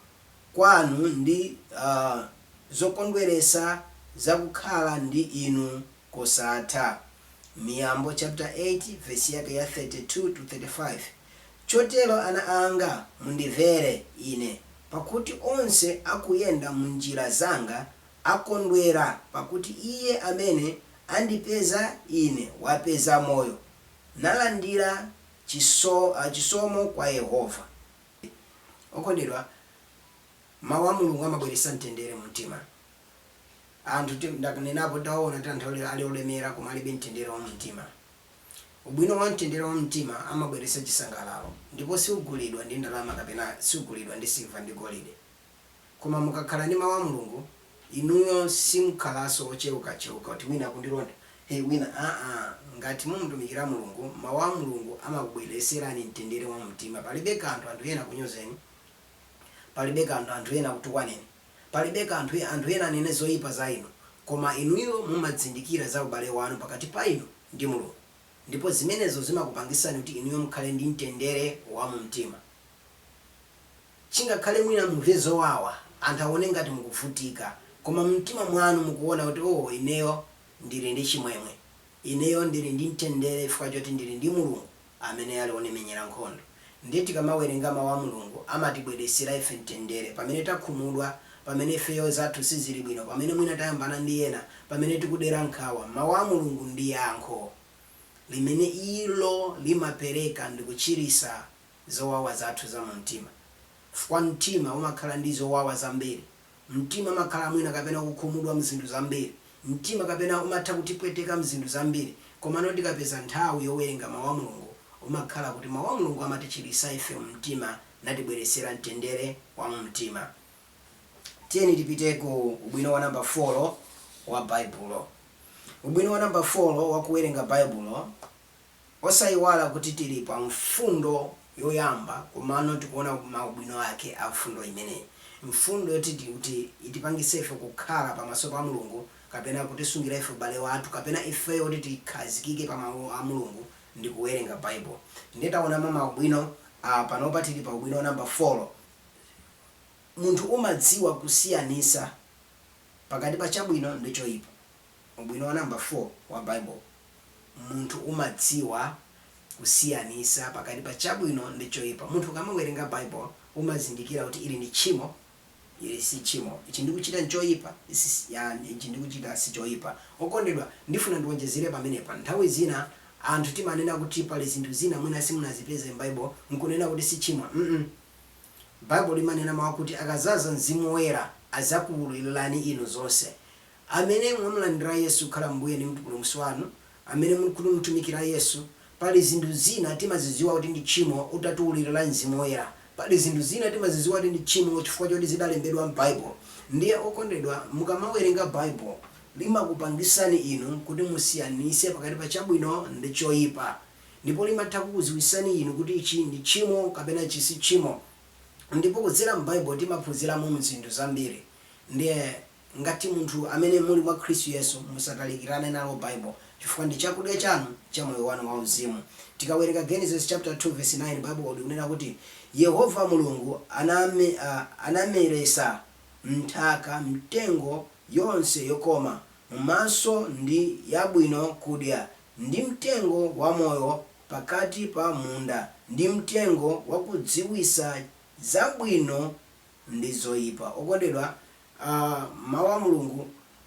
kwanu ndi zokondweresa za kukhala ndi inu kosatha. Miyambo chapter 8 vesi yake ya 32 to 35 Chotero, ana anga, mundimvere ine, pakuti onse akuyenda m'njira zanga akondwera, pakuti iye amene andipeza ine wapeza moyo, nalandira chisomo kwa Yehova. Okondedwa, Mau a Mulungu amabweretsa mtendere mumtima. Anthu tim, ndakunenapo tawaona tianthu ali olemera koma alibe mtendere wa mumtima. Ubwino wa mtendere wa mumtima amabweretsa chisangalalo ndipo siugulidwa ndi ndalama kapena siugulidwa ndi silver ndi golide. Koma mukakhala ndi mau a Mulungu inuyo simkhalaso ocheuka cheuka kuti wina akundilonda hey wina aa ngat mumutumikira Mulungu mau a Mulungu amakubwereserani mtendere wa mumtima palibe kanthu anthu ena akunyozeni palibe kanthu anthu ena akutukwaneni Palibe kanthu anthu ena anene zoyipa za inu, koma inuyo mumadzindikira za ubale wanu pakati pa inu ndi Mulungu, ndipo zimenezo zimakupangitsani kuti inuyo mukhale ndi mtendere wa mu mtima. Chinkana mwina mumve zowawa, anthu awone ngati mukuvutika, koma mu mtima mwanu mukuwona kuti, oh, ineyo ndiri ndi chimwemwe. Ineyo ndiri ndi mtendere chifukwa choti ndiri ndi Mulungu. amene ali onemenyera nkhondo. Ndiye tikamawerenga mau a Mulungu amatibweresera ife mtendere pamene takhumudwa, pamene ifeyo zathu sizili bwino, pamene mwina tayambana ndi ena, pamene tikudera nkhawa. Mau a Mulungu ndi yankho limene ilo limapereka ndi kuchirisa zowawa zathu za mu mtima. Fukwa mtima umakhala ndi zowawa zambiri. Mtima umakhala mwina kapena kukhumudwa mzinthu zambiri. Mtima kapena umatha kutipweteka mzinthu zambiri, komano tikapeza nthawi yowerenga mau a Mulungu, umakhala kuti mau a Mulungu amatichilisa ife mumtima natibweresera mtendere wa mumtima. Tiyeni tipite ku ubwino wa namba folo wa Baibulo. Ubwino wa namba folo wa kuwerenga Baibulo. Osaiwala kuti tili pa mfundo yoyamba komano tikuona ma ubwino ake a mfundo imeneyi. Mfundo yoti itipangitse ife kukhala pamaso pa Mulungu kapena kutisungira ife ubale wathu kapena ifeyo kuti tikhazikike pa mau a Mulungu ndi kuwerenga Baibulo. Ndiye taona ma ubwino panopa tili pa ubwino a namba folo. Munthu umadziwa kusiyanitsa pakati pa chabwino ndi choipa. ubwino wa number 4 wa Bible, munthu umadziwa kusiyanisa pakati pa chabwino ndi choipa. Munthu ukamawerenga Bible umazindikira kuti ili ndi tchimo, ili si tchimo, ichi ndikuchita nchoipa, ichi ndikuchita sichoipa. Okondedwa ndifuna ndiwonjezere pamenepa, nthawi zina anthu timanena kuti pali zinthu zina mwina simunazipeze m'Bible nkunena kuti si tchimo ma Bible limanena mau akuti akazaza Mzimu Woyera azakuululirani inu zonse. Amene mwamulandira Yesu kukhala Mbuye ndi Mpulumutsi wanu, amene mukumutumikira Yesu, pali zinthu zina timazidziwa kuti ndi tchimo utatiululira Mzimu Woyera. Pali zinthu zina timazidziwa kuti ndi tchimo chifukwa choti zidalembedwa m'Baibulo. Ndiye okondedwa, mukamawerenga Baibulo, limakupangitsani inu kuti musiyanitse pakati pa chabwino ndi choipa. Ndipo limatha kukudziwitsani inu kuti ichi ndi tchimo kapena ichi si tchimo. Ndipo kudzera m'Baibulo timaphunziramo zinthu zambiri. Ndiye. Ngati munthu amene muli mwa Khristu Yesu, musatalikirane nalo Bible chifukwa ndi chakudya chanu cha moyo wanu wa uzimu. Tikawerenga Genesis chapter 2 verse 9 Bible likunena kuti Yehova Mulungu anameresa m'nthaka mitengo yonse yokoma m'maso ndi yabwino kudya, ndi mtengo wa moyo pakati pa munda, ndi mtengo wakudziwisa zabwino ndi zoipa. Okondedwa, a, Mawu a Mulungu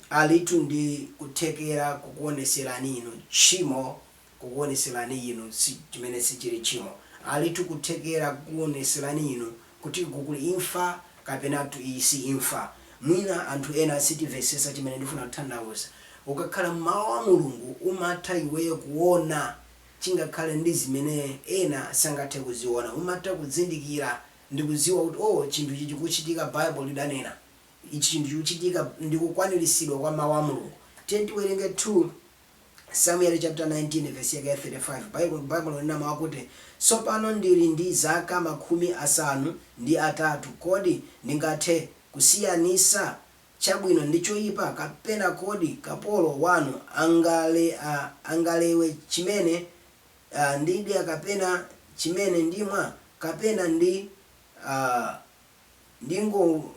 alitu ndi kuthekera kukuwonetserani inu tchimo, kukuwonetserani inu si, chimene sichiri tchimo. Alitu kuthekera kukuwonetserani inu kuti uku kuli imfa kapenatu iyi si imfa. Mwina anthu ena sitimvetsetsa chimene ndifuna kuthandauza. Ukakhala mu Mawu a Mulungu umatha iweyo kuwona chingakhale ndi zimene ena sangathe kuziwona. Umatha kuzindikira. ndi kudziwa kuti o chinthu ichi chikuchitika bible lidanena ichi chinthu chikuchitika ndikukwanilisidwa kwa mau a mulungu tiwerenge 2 Samueli chapter 19 verse yake ya 35 bible bible linena mau akuti tsopano ndili ndi zaka makhumi asanu ndi atatu kodi ndingathe kusiyanisa chabwino ndi choipa kapena kodi kapolo wanu angale a angalewe chimene a, ndidya kapena chimene ndimwa, kapena ndi, a, ndingo,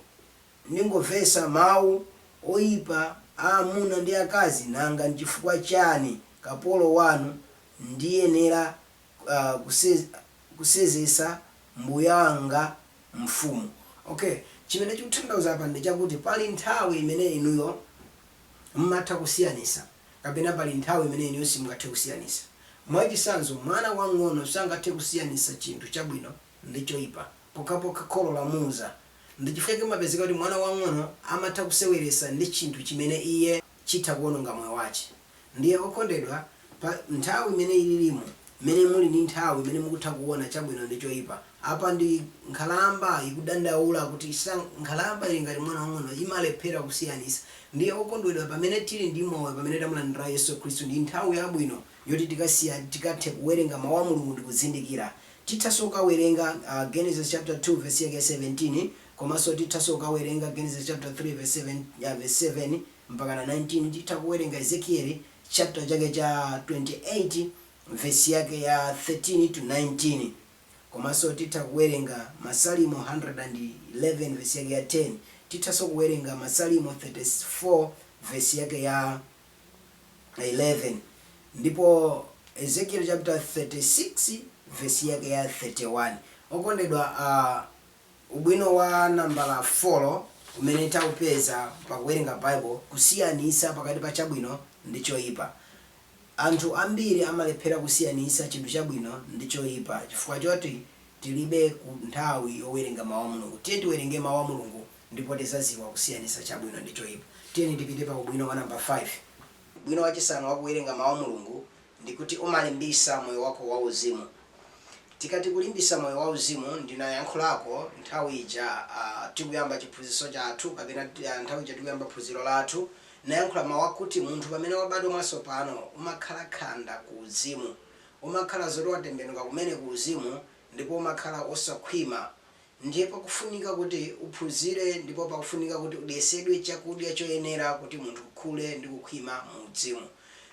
ndingomvetsa mawu oyipa a amuna ndi akazi, nanga n'chifukwa chani kapolo wanu ndiyenera, a, kuse, kusezetsa mbuye wanga mfumu? Ok, chimene chikuthandauza apa ndi chakuti pali nthawi imene inuyo m'matha kusiyanitsa Kapena pali nthawi imene inuyo simungathe kusiyanitsa? Mwachitsanzo, mwana wamng'ono sangathe kusiyanitsa chinthu chabwino ndi choipa pokhapokha kholo lamuuza. Ndi chifukwa chake kumapezeka kuti mwana wamng'ono amatha kuseweretsa ndi chinthu chimene iye chitha kuononga moyo wache. Ndiye okondedwa, pa nthawi imene ililimo, imene muli ndi nthawi imene mukutha kuona chabwino ndi choipa, Apa ndi nkhalamba ikudandaula kuti sa. Nkhalamba ili ngati mwana wamng'ono, imalephera kusiyanitsa. Ndiye okondedwa pamene tili ndi moyo pamene tamulandira Yesu Khristu ndi nthawi yabwino yoti tikasiya tikathe kuwerenga mau a Mulungu ndi kuzindikira. Tithaso kukawerenga Genesis chapter 2 verse yake ya 17 komaso tithaso kukawerenga Genesis chapter 3 verse 7 verse 7 mpakana 19 titha kuwerenga Ezekieli chapter chake cha 28 verse yake ya 13 to 19. Komanso titha kuwerenga Masalimo 111 vesi yake ya 10. Tithanso kuwerenga Masalimo 34 vesi yake ya 11, ndipo Ezekieli chaputala 36 vesi yake ya 31. Okondedwa, a, ubwino wa nambala folo umene taupeza pa kuwerenga Baibo, kusiyanitsa pakati pa chabwino ndi choipa. Anthu ambiri amalephera kusiyanitsa chinthu chabwino ndi choipa chifukwa choti tilibe nthawi yowerenga mau a Mulungu. Tiyeni tiwerenge mau a Mulungu ndipo tizaziwa kusiyanitsa chabwino ndi choipa. Tiyeni tipite pa ubwino wa namba 5. Ubwino wachisanu wa kuwerenga mau a Mulungu ndi kuti umalimbisa moyo wako wauzimu. Tikati kulimbisa moyo wa uzimu ndinayankhulako nthawi ija tikuyamba chiphunziso chathu kapena nthawi ija tikuyamba phunziro lathu. Nayankhula mau akuti munthu pamene wabadwa mwatsopano umakhala khanda ku uzimu. Umakhala zoti watembenuka kumene ku uzimu ndipo umakhala osakhwima. Ndiye pakufunika kuti uphunzire ndipo pakufunika kuti udyesedwe chakudya choyenera kuti munthu ukhule ndi kukhwima mu uzimu.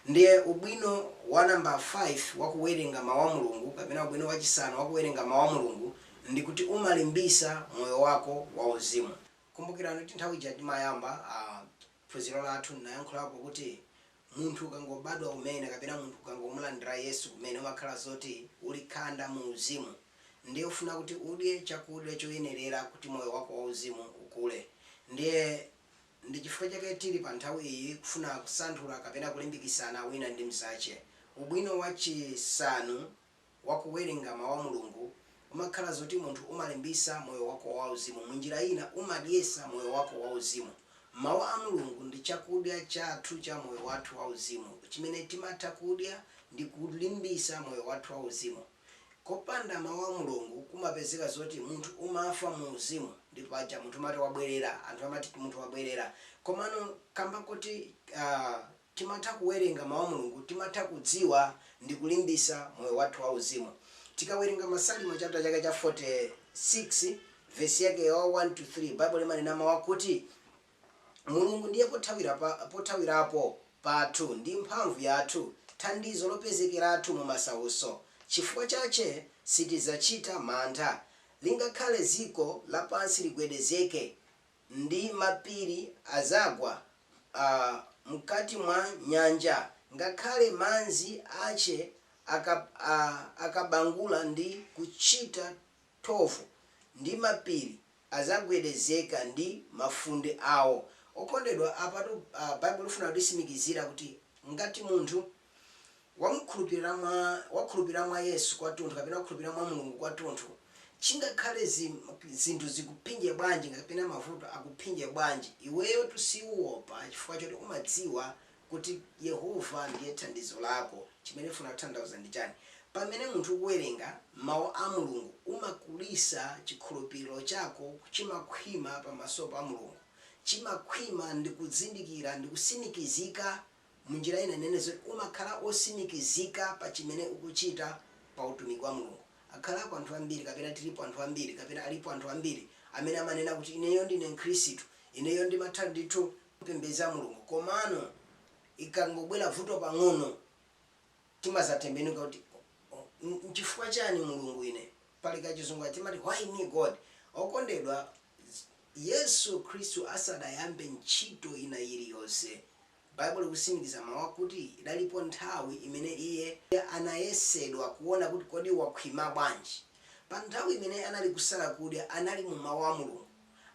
Ndiye ubwino wa namba 5 wa kuwerenga mau a Mulungu kapena ubwino wachisanu wa kuwerenga mau a Mulungu ndi kuti umalimbisa moyo wako wa uzimu. Kumbukirani kuti nthawi ija timayamba phunziro lathu ndinayankhulapo kuti munthu ukangobadwa kumene kapena munthu ukangomulandira Yesu kumene umakhala zoti uli khanda mu uzimu ndiye ufuna kuti udye chakudya choyenerera kuti moyo wako wa uzimu ukule ndiye ndi chifukwa chake tili pa nthawi iyi kufuna kusanthula kapena kulimbikitsana wina ndi mzache ubwino wa chisanu wa kuwerenga mawu a Mulungu umakhala zoti munthu umalimbisa moyo wako wa uzimu munjira ina umadyesa moyo wako wa uzimu. Mawu a Mulungu ndi chakudya chathu cha moyo wathu wa uzimu chimene timatha kudya ndi kulimbisa moyo wathu wa uzimu. Kopanda mawu a Mulungu kumapezeka zoti munthu umafa mu uzimu ndipo paja munthu amati wabwerera anthu amati munthu wabwerera komano kamba koti uh, Timatha kuwerenga mau a Mulungu, timatha kudziwa ndikulimbisa moyo wathu wa uzimu. Tikawerenga Masalimo chapter chake cha 46 verse yake ya 1 to 3 Bible imanena mau akuti Mulungu ndiye pothawira pa pothawirapo pathu ndi mphamvu yathu, thandizo lopezekeratu mu masauso, cifukwa cace sitidzacita mantha, lingakhale ziko lapansi ligwedezeke, ndi mapiri azagwa m'kati mwa nyanja, ngakhale manzi ace akabangula ndi kucita thovu, ndi mapiri azagwedezeka ndi mafunde ao. Okondedwa, apatu Baibulo lifuna kutisimikizira kuti ngati munthu. wamukhulupirira mwa wakhulupirira mwa Yesu kwatunthu kapena wakhulupirira mwa Mulungu kwatunthu chingakhale zim, zinthu zikuphinje bwanji kapena mavuto akuphinje bwanji iweyotu siuopa chifukwa choti umadziwa kuti Yehova ndiye thandizo lako chimene funa kutanthauza ndi chani pamene munthu ukuwerenga mau a Mulungu umakulisa chikhulupiriro chako chimakhwima pamaso pa Mulungu chimakhwima ndikuzindikira ndikusimikizika munjira ina ndinene zoti umakhala osimikizika pa chimene ukuchita pa utumiki wa Mulungu. Akhalako anthu ambiri kapena tilipo anthu ambiri kapena alipo anthu ambiri amene amanena kuti ineyo ndine mkhristu, ineyo ndimatha ndithu kupembedza Mulungu komano ikangobwera vuto pang'ono. timazatembenuka kuti nchifukwa chani mulungu ine pali kachizungu kaja timati why me God okondedwa yesu khristu asadayambe ntchito ina yiliyonse Baibulo ikusimikiza mau akuti idalipo nthawi imene iye anayesedwa kuona kuti kodi wakhwima bwanji pa nthawi imene anali kusala kudya anali mu mau a mulungu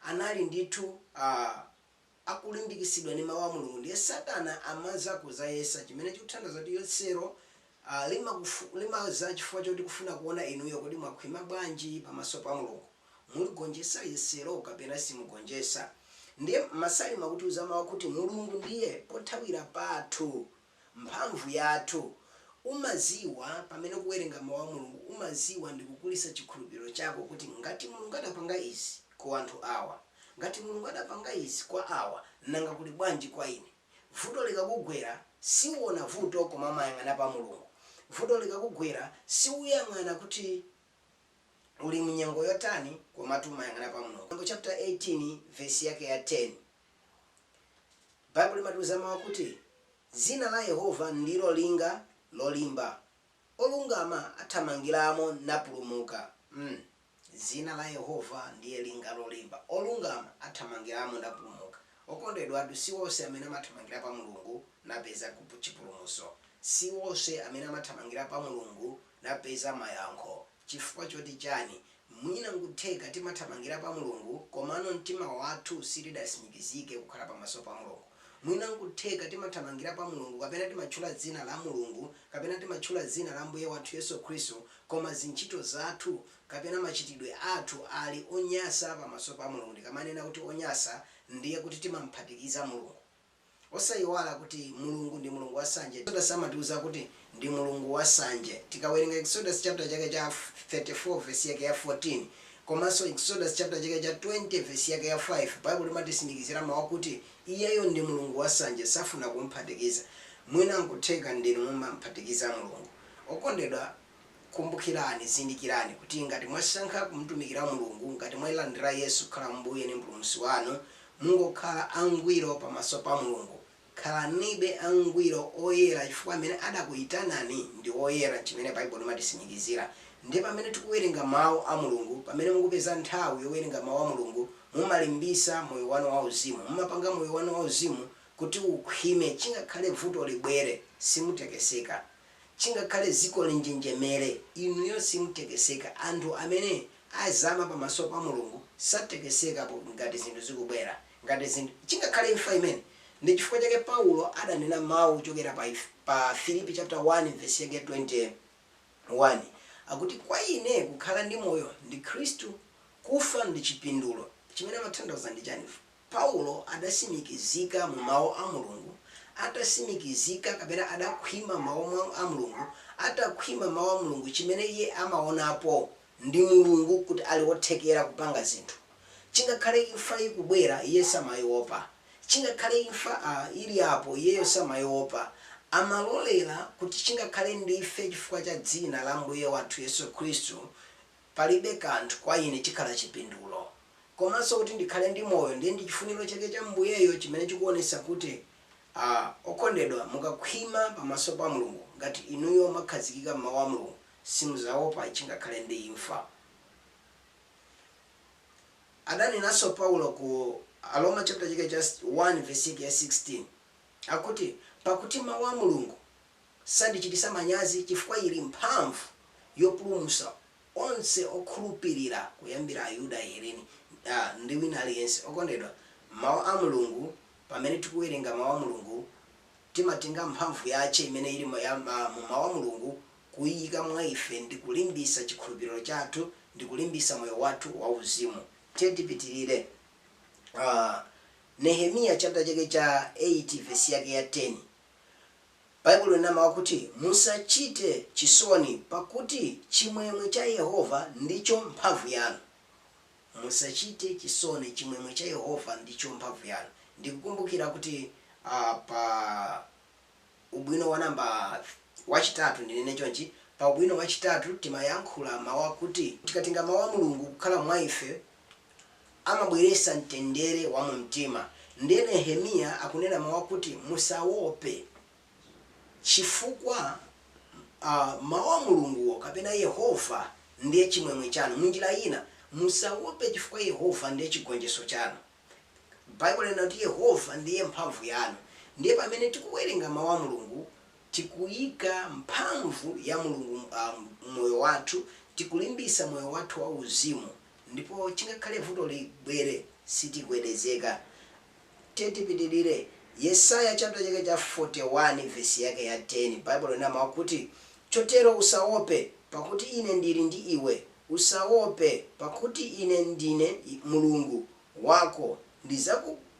anali ndithu uh, akulimbikisidwa ndi Mau a Mulungu ndiye satana amaza kuzayesa chimene chikuthandauza kuti yesero limaza chifukwa choti kufuna kuona inuyo kodi mwakhwima bwanji pamaso pa Mulungu, muligonjesa yesero kapena simugonjesa. Ndiye Masalimo akutiuza mau kuti Mulungu ndiye pothawira pathu. mphamvu yathu. Umaziwa pamene ukuwerenga mau a Mulungu umaziwa ndikukulisa chikhulupiliro chako kuti ngati Mulungu adapanga izi kwa anthu awa ngati Mulungu adapanga izi kwa awa nanga kuli bwanji kwa ine. Vuto likakugwera siuona vuto koma umayang'ana pa Mulungu. Vuto likakugwera siuyang'ana kuti uli mu nyengo yotani komatu umayang'ana pa Mulungu. Miyambo chaputala 18 vesi yake ya 10. Baibulo imatiuza mawu kuti, Dzina la Yehova ndilo linga lolimba, olungama athamangiramo napulumuka. mm. dzina la Yehova ndiye linga lolimba, olungama athamangiramo napulumuka. Okondedwatu, si onse amene amathamangira pa Mulungu napeza chipulumutso. Si onse amene amathamangira pa Mulungu napeza mayankho. Chifukwa choti chani? Mwina nkutheka timathamangira pa Mulungu komano mtima wathu sitidasimikizike kukhala pamaso pa Mulungu. Mwina nkutheka timathamangira pa Mulungu kapena timatchula dzina la Mulungu kapena timatchula dzina la Ambuye wathu Yesu Khristu koma zintchito zathu kapena machitidwe athu ali onyasa pamaso pa Mulungu ndikamanena kuti onyasa ndiye kuti timamphatikiza Mulungu. Osaiwala kuti Mulungu ndi Mulungu wa sanje. Exodus amatiuza kuti ndi Mulungu wa sanje. Tikawerenga Exodus chapter chake cha 34 verse yake ya 14, komanso Exodus chapter chake cha 20 verse yake ya 5, Baibulo imatisimikizira mau kuti iyeyo ndi Mulungu wa sanje, safuna kumphatikiza. Mwina nkutheka ndinu mumamphatikiza Mulungu. Okondedwa Kumbukirani, zindikirani, kuti ngati mwasankha kumtumikira Mulungu, ngati mwailandira Yesu kukhala Mbuye ndi Mpulumutsi wanu, mungokhala angwiro pamaso pa Mulungu. Khalanibe angwiro, oyera, chifukwa amene adakuitanani ndi woyera, chimene Baibulo imatitsimikizira. Ndiye pamene tikuwerenga Mawu a Mulungu, pamene mukupeza nthawi yowerenga Mawu a Mulungu, mumalimbisa moyo wanu wauzimu. Mumapanga moyo wanu wauzimu kuti ukhwime, chingakhale vuto libwere, simutekeseka. Chingakhale dziko linjenjemere, inuyo simutekeseka. Anthu amene azama pamaso pa Mulungu satekesekapo ngati zinthu zikubwera, ngati zinthu. Chingakhale imfa imene. Ndi chifukwa chake Paulo adanena mau kuchokera pa pa Afilipi chapter 1 vesi yake ya 21 akuti kwa ine kukhala ndi moyo ndi Khristu, kufa ndi chipindulo. Chimene amatanthauza ndi chani? Paulo adasimikizika mu mawu a Mulungu, atasimikizika kapena adakhwima m'mawu a Mulungu, atakhwima mawu a Mulungu chimene iye amaonapo ndi Mulungu kuti ali wothekera kupanga zinthu. Chingakhale imfa ikubwera iye samaiopa. Chingakhale imfa a, ili apo iyeyo samaiopa. Amalolera kuti chingakhale ndife chifukwa cha dzina la Ambuye wathu Yesu Khristu. palibe kanthu kwa ine chikhala chipindulo, komanso kuti ndikhale ndi moyo, ndiye ndi chifuniro chake cha Ambuyeyo chimene chikuonetsa kuti a okondedwa mukakhwima pamaso pa Mulungu ngati inuyo mwakhazikika m'mau a Mulungu simuzaopa chingakhale ndi imfa. Adanenanso Paulo ku Aroma chapter chake cha 1 vesi yake ya 16 akuti pakuti mau a Mulungu. Sandichitisa manyazi chifukwa ili mphamvu yopulumusa onse okhulupilira kuyambira Ayuda, Ahelene ndi wina aliyense. Okondedwa, Mawu a Mulungu, pamene tikuwerenga Mawu a Mulungu, timatenga mphamvu yache imene ili mu Mawu a Mulungu kuiyika mwa ife ndi kulimbisa chikhulupiliro chathu ndi kulimbisa moyo wathu wa uzimu. Tipitilire. Nehemiya chapter chake cha 8 vesi yake ya 10. Baibulo inena mawu akuti, Musachite chisoni, pakuti chimwemwe cha Yehova ndicho mphamvu yanu. Musachite chisoni, chimwemwe cha Yehova ndicho mphamvu yanu. Ndikukumbukira kuti a, pa ubwino wa namba, wachitatu, ndinene chonchi, pa ubwino wachitatu timayankhula mawu akuti, Tikatenga Mawu a Mulungu kukhala mwa ife, amabweretsa mtendere wa mumtima. Ndiye Nehemiya akunena mawu akuti, Musawope, chifukwa mawu a Mulunguwo, kapena Yehova, ndiye chimwemwe chanu. M'njira ina, Musawope, chifukwa Yehova ndiye chigonjetso chanu. Baibulo lina kuti Yehova ndiye mphamvu yanu. Ndiye pamene tikuwerenga Mawu a Mulungu, tikuika mphamvu ya Mulungu m'moyo wathu, tikulimbitsa moyo wathu wauzimu. Ndipo chingakhale vuto libwere, sitigwedezeka. Tiye tipitirire. Yesaya chaputala chake cha 41 vesi yake ya 10, Baibulo linena mawu akuti, Chotero usawope, pakuti Ine ndiri ndi iwe, usawope, pakuti Ine ndine Mulungu wako,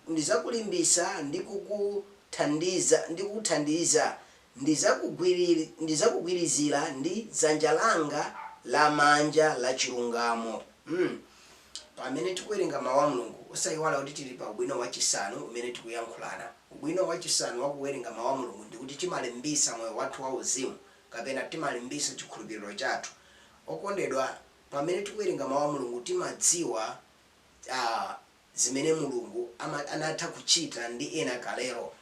ndidzakulimbitsa ndi kukuthandiza, ndidzakugwirizira ndi dzanja langa lamanja lachilungamo. Pamene tikuwerenga Mau a Mulungu, osaiwala kuti tili pa ubwino wachisanu umene tikuyankhulana. Ubwino wachisanu wa kuwerenga Mau a Mulungu ndi kuti timalimbitsa moyo wathu wauzimu kapena timalimbitsa chikhulupiriro chathu. Okondedwa, pamene tikuwerenga Mau a Mulungu timadziwa zimene Mulungu anatha kuchita ndi ena kalelo.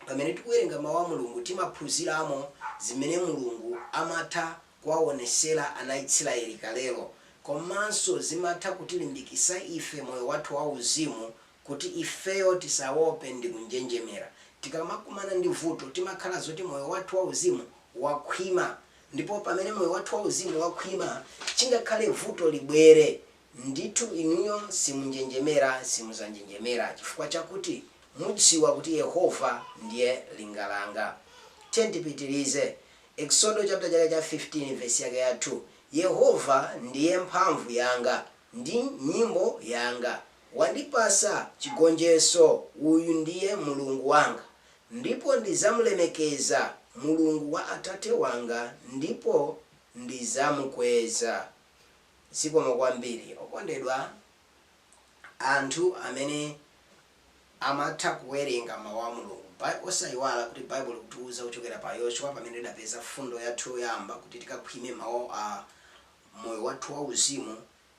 Pamene tikuwerenga Mawu a Mulungu, timaphunziramo zimene Mulungu amatha kuwawonesera ana Israeli kalelo. Komanso zimatha kutilimbikisa ife moyo wathu wa uzimu kuti ifeyo tisawope ndi kunjenjemera. Tikamakumana ndi vuto, timakhala zoti moyo wathu wa uzimu wakhwima. Ndipo pamene moyo wathu wa uzimu wakhwima, chingakhale vuto libwere. Ndithu inuyo simunjenjemera, simudzanjenjemera, chifukwa chakuti mudziwa kuti Yehova ndiye linga langa. Tiyeni tipitirize. Eksodo chapter 15 vesi yake ya 2, Yehova ndiye mphamvu yanga ndi nyimbo yanga, wandipatsa chigonjetso, uyu ndiye Mulungu wanga, ndipo ndidzamulemekeza, Mulungu wa atate wanga, ndipo ndidzamukweza. Zikomo kwambiri okondedwa anthu amene amatha kuwerenga mau a Mulungu. Osaiwala kuti Baibulo likutiuza kuchokera pa Yoshua pamene tidapeza fundo yathu yoyamba kuti tikakhwime mau a moyo wathu wa uzimu.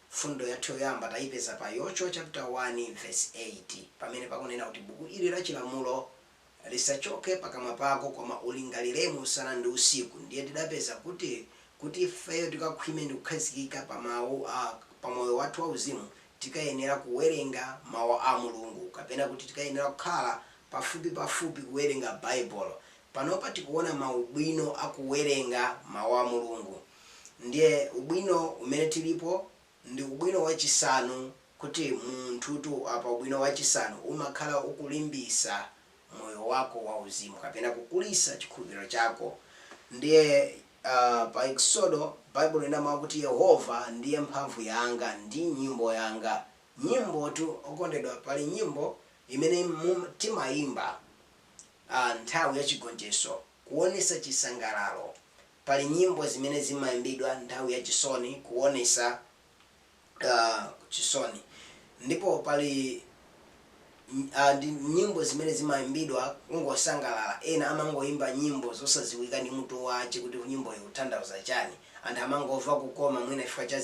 Fundo yathu yoyamba taipeza pa Yoshua chapter 1 verse 8 pamene pakunena kuti buku ili la chilamulo lisachoke pakamwa pako, koma ulingaliremo usana ndi usiku. Ndiye tidapeza kuti, kuti ifeyo tikakhwime ndi kukhazikika pa moyo wathu wauzimu, tikayenera kuwerenga Mawu a Mulungu, kapena kuti tikayenera kukhala pafupipafupi kuwerenga Baibulo. Panopa tikuona maubwino a kuwerenga Mawu a Mulungu. Ndiye ubwino umene tilipo Ndi ubwino wachisanu kuti munthutu apa ubwino wachisanu umakhala ukulimbisa moyo wako wa uzimu kapena kukulisa chikhulupiro chako ndiye uh, pa Eksodo Baibulo ikunena mawu kuti Yehova ndiye mphamvu yanga ndi nyimbo yanga nyimbotu okondedwa pali nyimbo imene timayimba uh, nthawi ya chigonjetso kuonesa chisangalalo pali nyimbo zimene zimaimbidwa nthawi ya chisoni kuonesa chisoni ndipo pali ndi nyimbo zimene zimaimbidwa kungosangalala ena amangoimba nyimbo zosaziwika ndi mutu wache kuti nyimboyi ikuthandauza chani anthu amangova kukoma mwina chifukwa cha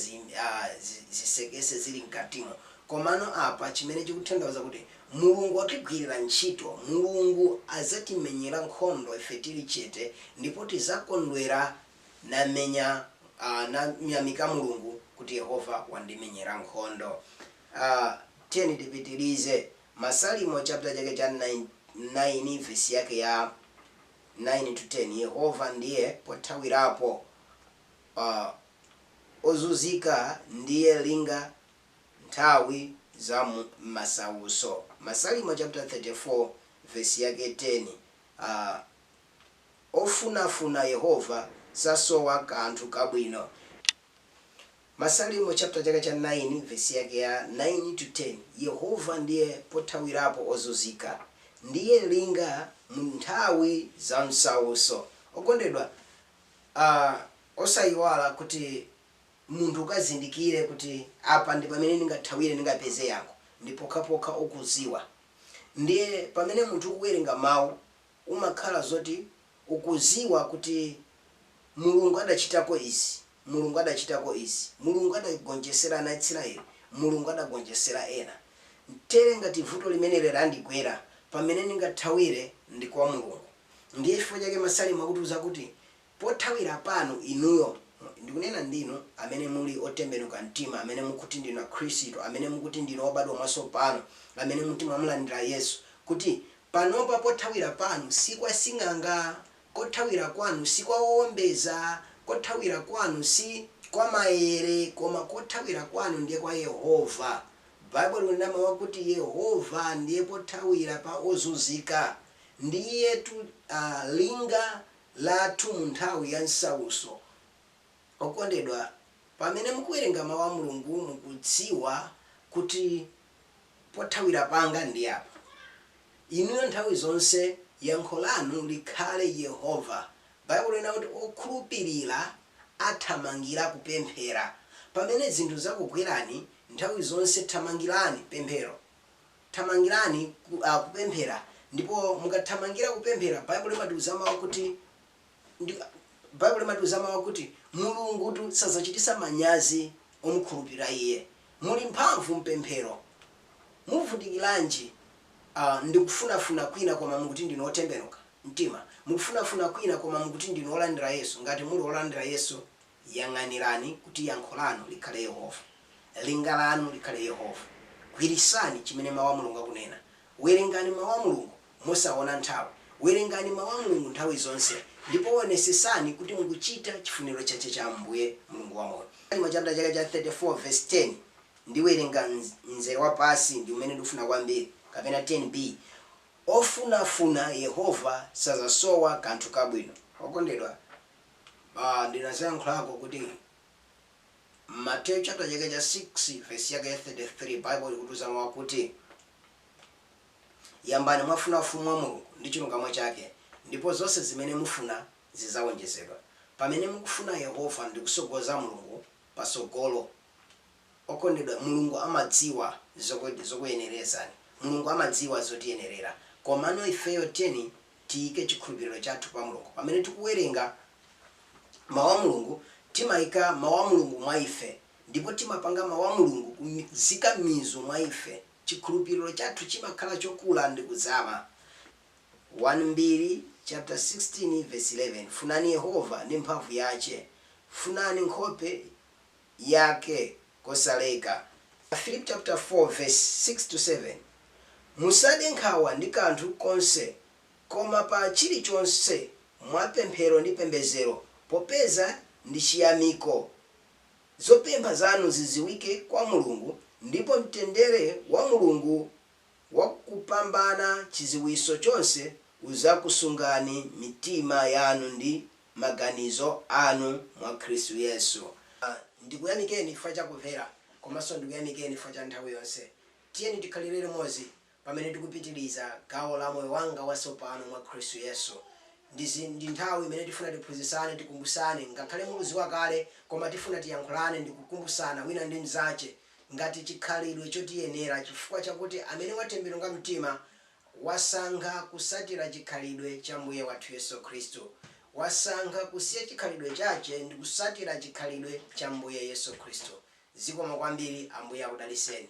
zisekese zili mkatimo komano apa chimene chikuthandauza kuti Mulungu atigwirira ntchito. Mulungu azatimenyera nkhondo ife tiri chete, ndipo tizakondwera namenya, a, namyamika Mulungu kuti Yehova wandimenyera nkhondo. A, tiyeni tipitirize. Masalimo chaputala chake cha 9, 9 vesi yake ya 9 to 10, Yehova ndiye pothawirapo ozunzika, ndiye linga nthawi za mu masautso. Masalimo chaputala 34 vesi yake 10 a Ofunafuna Yehova sasowa kanthu kabwino. Masalimo chapta chake cha 9 vesi yake ya 9 to 10 Yehova ndiye pothawirapo ozunzika, ndiye linga mu nthawi za msautso. Okondedwa, a, osayiwala kuti munthu ukazindikire kuti apa ndi pamene ndingathawire, ndingapeze yankho, ndi pokhapokha ukuziwa. Ndiye pamene munthu ukuwerenga mau umakhala zoti ukuziwa kuti Mulungu adachitako izi, Mulungu adachitako izi, Mulungu adagonjesera ana a Israel, Mulungu adagonjesera ena. Tere ngati vuto limeneli randigwera, pamene ndingathawire ndi kwa Mulungu. Ndiye chifukwa chake Masalimo akutiuza kuti pothawira panu, inuyo, ndikunena ndi inu amene muli otembenuka mtima, amene mukuti ndinu Akhristu, amene mukuti ndinu obadwa mwatsopano, amene mukuti mwamulandira Yesu, kuti panopa pothawira panu si kwa sing'anga, kothawira kwanu si kwa owombeza, kothawira kwanu si kwa maere, koma kothawira kwanu ndiye kwa Yehova. Baibulo likunena mawu akuti Yehova ndiye pothawira pa ozunzika. Ndiyetu linga lathu mu nthawi ya msautso. Okondedwa, pamene mukuwerenga Mau a Mulungu mukudziwa kuti pothawira panga ndi apa. Inuyo nthawi zonse yankho lanu likhale Yehova. Baibulo linati kuti okhulupirira athamangira kupemphera. Pamene zinthu zakugwerani, nthawi zonse thamangirani pemphero. thamangirani kupemphera. Ndipo mukathamangira kupemphera, Baibulo limatiuza mawu kuti Mulungutu sadzachitisa manyazi omukhulupirira Iye. Muli mphamvu mpemphero. Muvutikiranji ndi kufunafuna kwina koma mukuti ndinu otembenuka mtima. Mukufunafuna kwina koma mukuti ndinu olandira Yesu, ngati muli olandira Yesu Yang'anirani kuti yankho lanu likhale Yehova. Linga lanu likhale Yehova. Gwiritsani chimene Mawu a Mulungu akunena. Werengani Mawu a Mulungu mosawona nthawi. Werengani Mawu a Mulungu nthawi zonse, ndipo wonesetsani kuti mukuchita chifuniro chache cha Ambuye Mulungu wa moyo. Salimo chaputala chake cha 34 vesi 10, ndiwerenga mzere wa pansi, ndi umene ndikuufuna kwambiri, kapena 10B, Ofunafuna Yehova sadzasowa kanthu kabwino. Okondedwa. Ndinaziyankhulako kuti Mateyu chapter chake cha 6 vesi yake ya 33 Bible ikutiuza mau kuti Yambani mwafuna ufumu wa Mulungu ndi chilungamo chake ndipo zonse zimene mufuna zizawonjezedwa. Pamene mukufuna Yehova ndikusogoza Mulungu pasogolo Okondedwa, Mulungu amadziwa zokuyenerezani. Mulungu amadziwa zotiyenerera. Komano ifeyo tiyeni tiyike chikhulupiriro chathu pa Mulungu. Pamene tikuwerenga Mau a Mulungu, timayika Mau a Mulungu mwa ife ndipo timapanga Mau a Mulungu kuzika mizu mwa ife. Chikhulupiriro chathu chimakhala chokula ndi kuzama. 1 Mbiri chaputala 16 vesi 11 Funani Yehova ndi mphamvu yache, funani nkhope. Yake kosaleka. Afilipi chaputala 4 vesi 6, 7, Musade nkhawa ndi kanthu konse, koma pa chilichonse mwa pemphero ndi pembezero popeza ndi chiyamiko zopempha zanu zidziwike kwa Mulungu, ndipo mtendere wa Mulungu wakupambana chidziwitso chonse udzakusungani mitima yanu ndi. maganizo anu mwa Khristu Yesu. Ndikuyamikeni chifukwa cha kumvera komanso ndikuyamikeni chifukwa cha nthawi yonse. Tiyeni tikhalire limodzi pamene tikupitiliza gawo la Moyo Wanga Watsopano mwa Khristu Yesu. Ndi nthawi imene tifuna tiphunzitsane, tikumbusane ngakhale mukuziwa kale koma tifuna tiyankhulane ndikukumbusana wina ndi mzache ngati chikhalidwe chotiyenera chifukwa chakuti amene watembenuka mtima wasankha kusatira chikhalidwe cha Mbuye wathu Yesu Khristu, wasankha kusiya chikhalidwe chache ndikusatira chikhalidwe cha Mbuye Yesu Khristu. Zikomo kwambiri. Ambuye akudaliseni.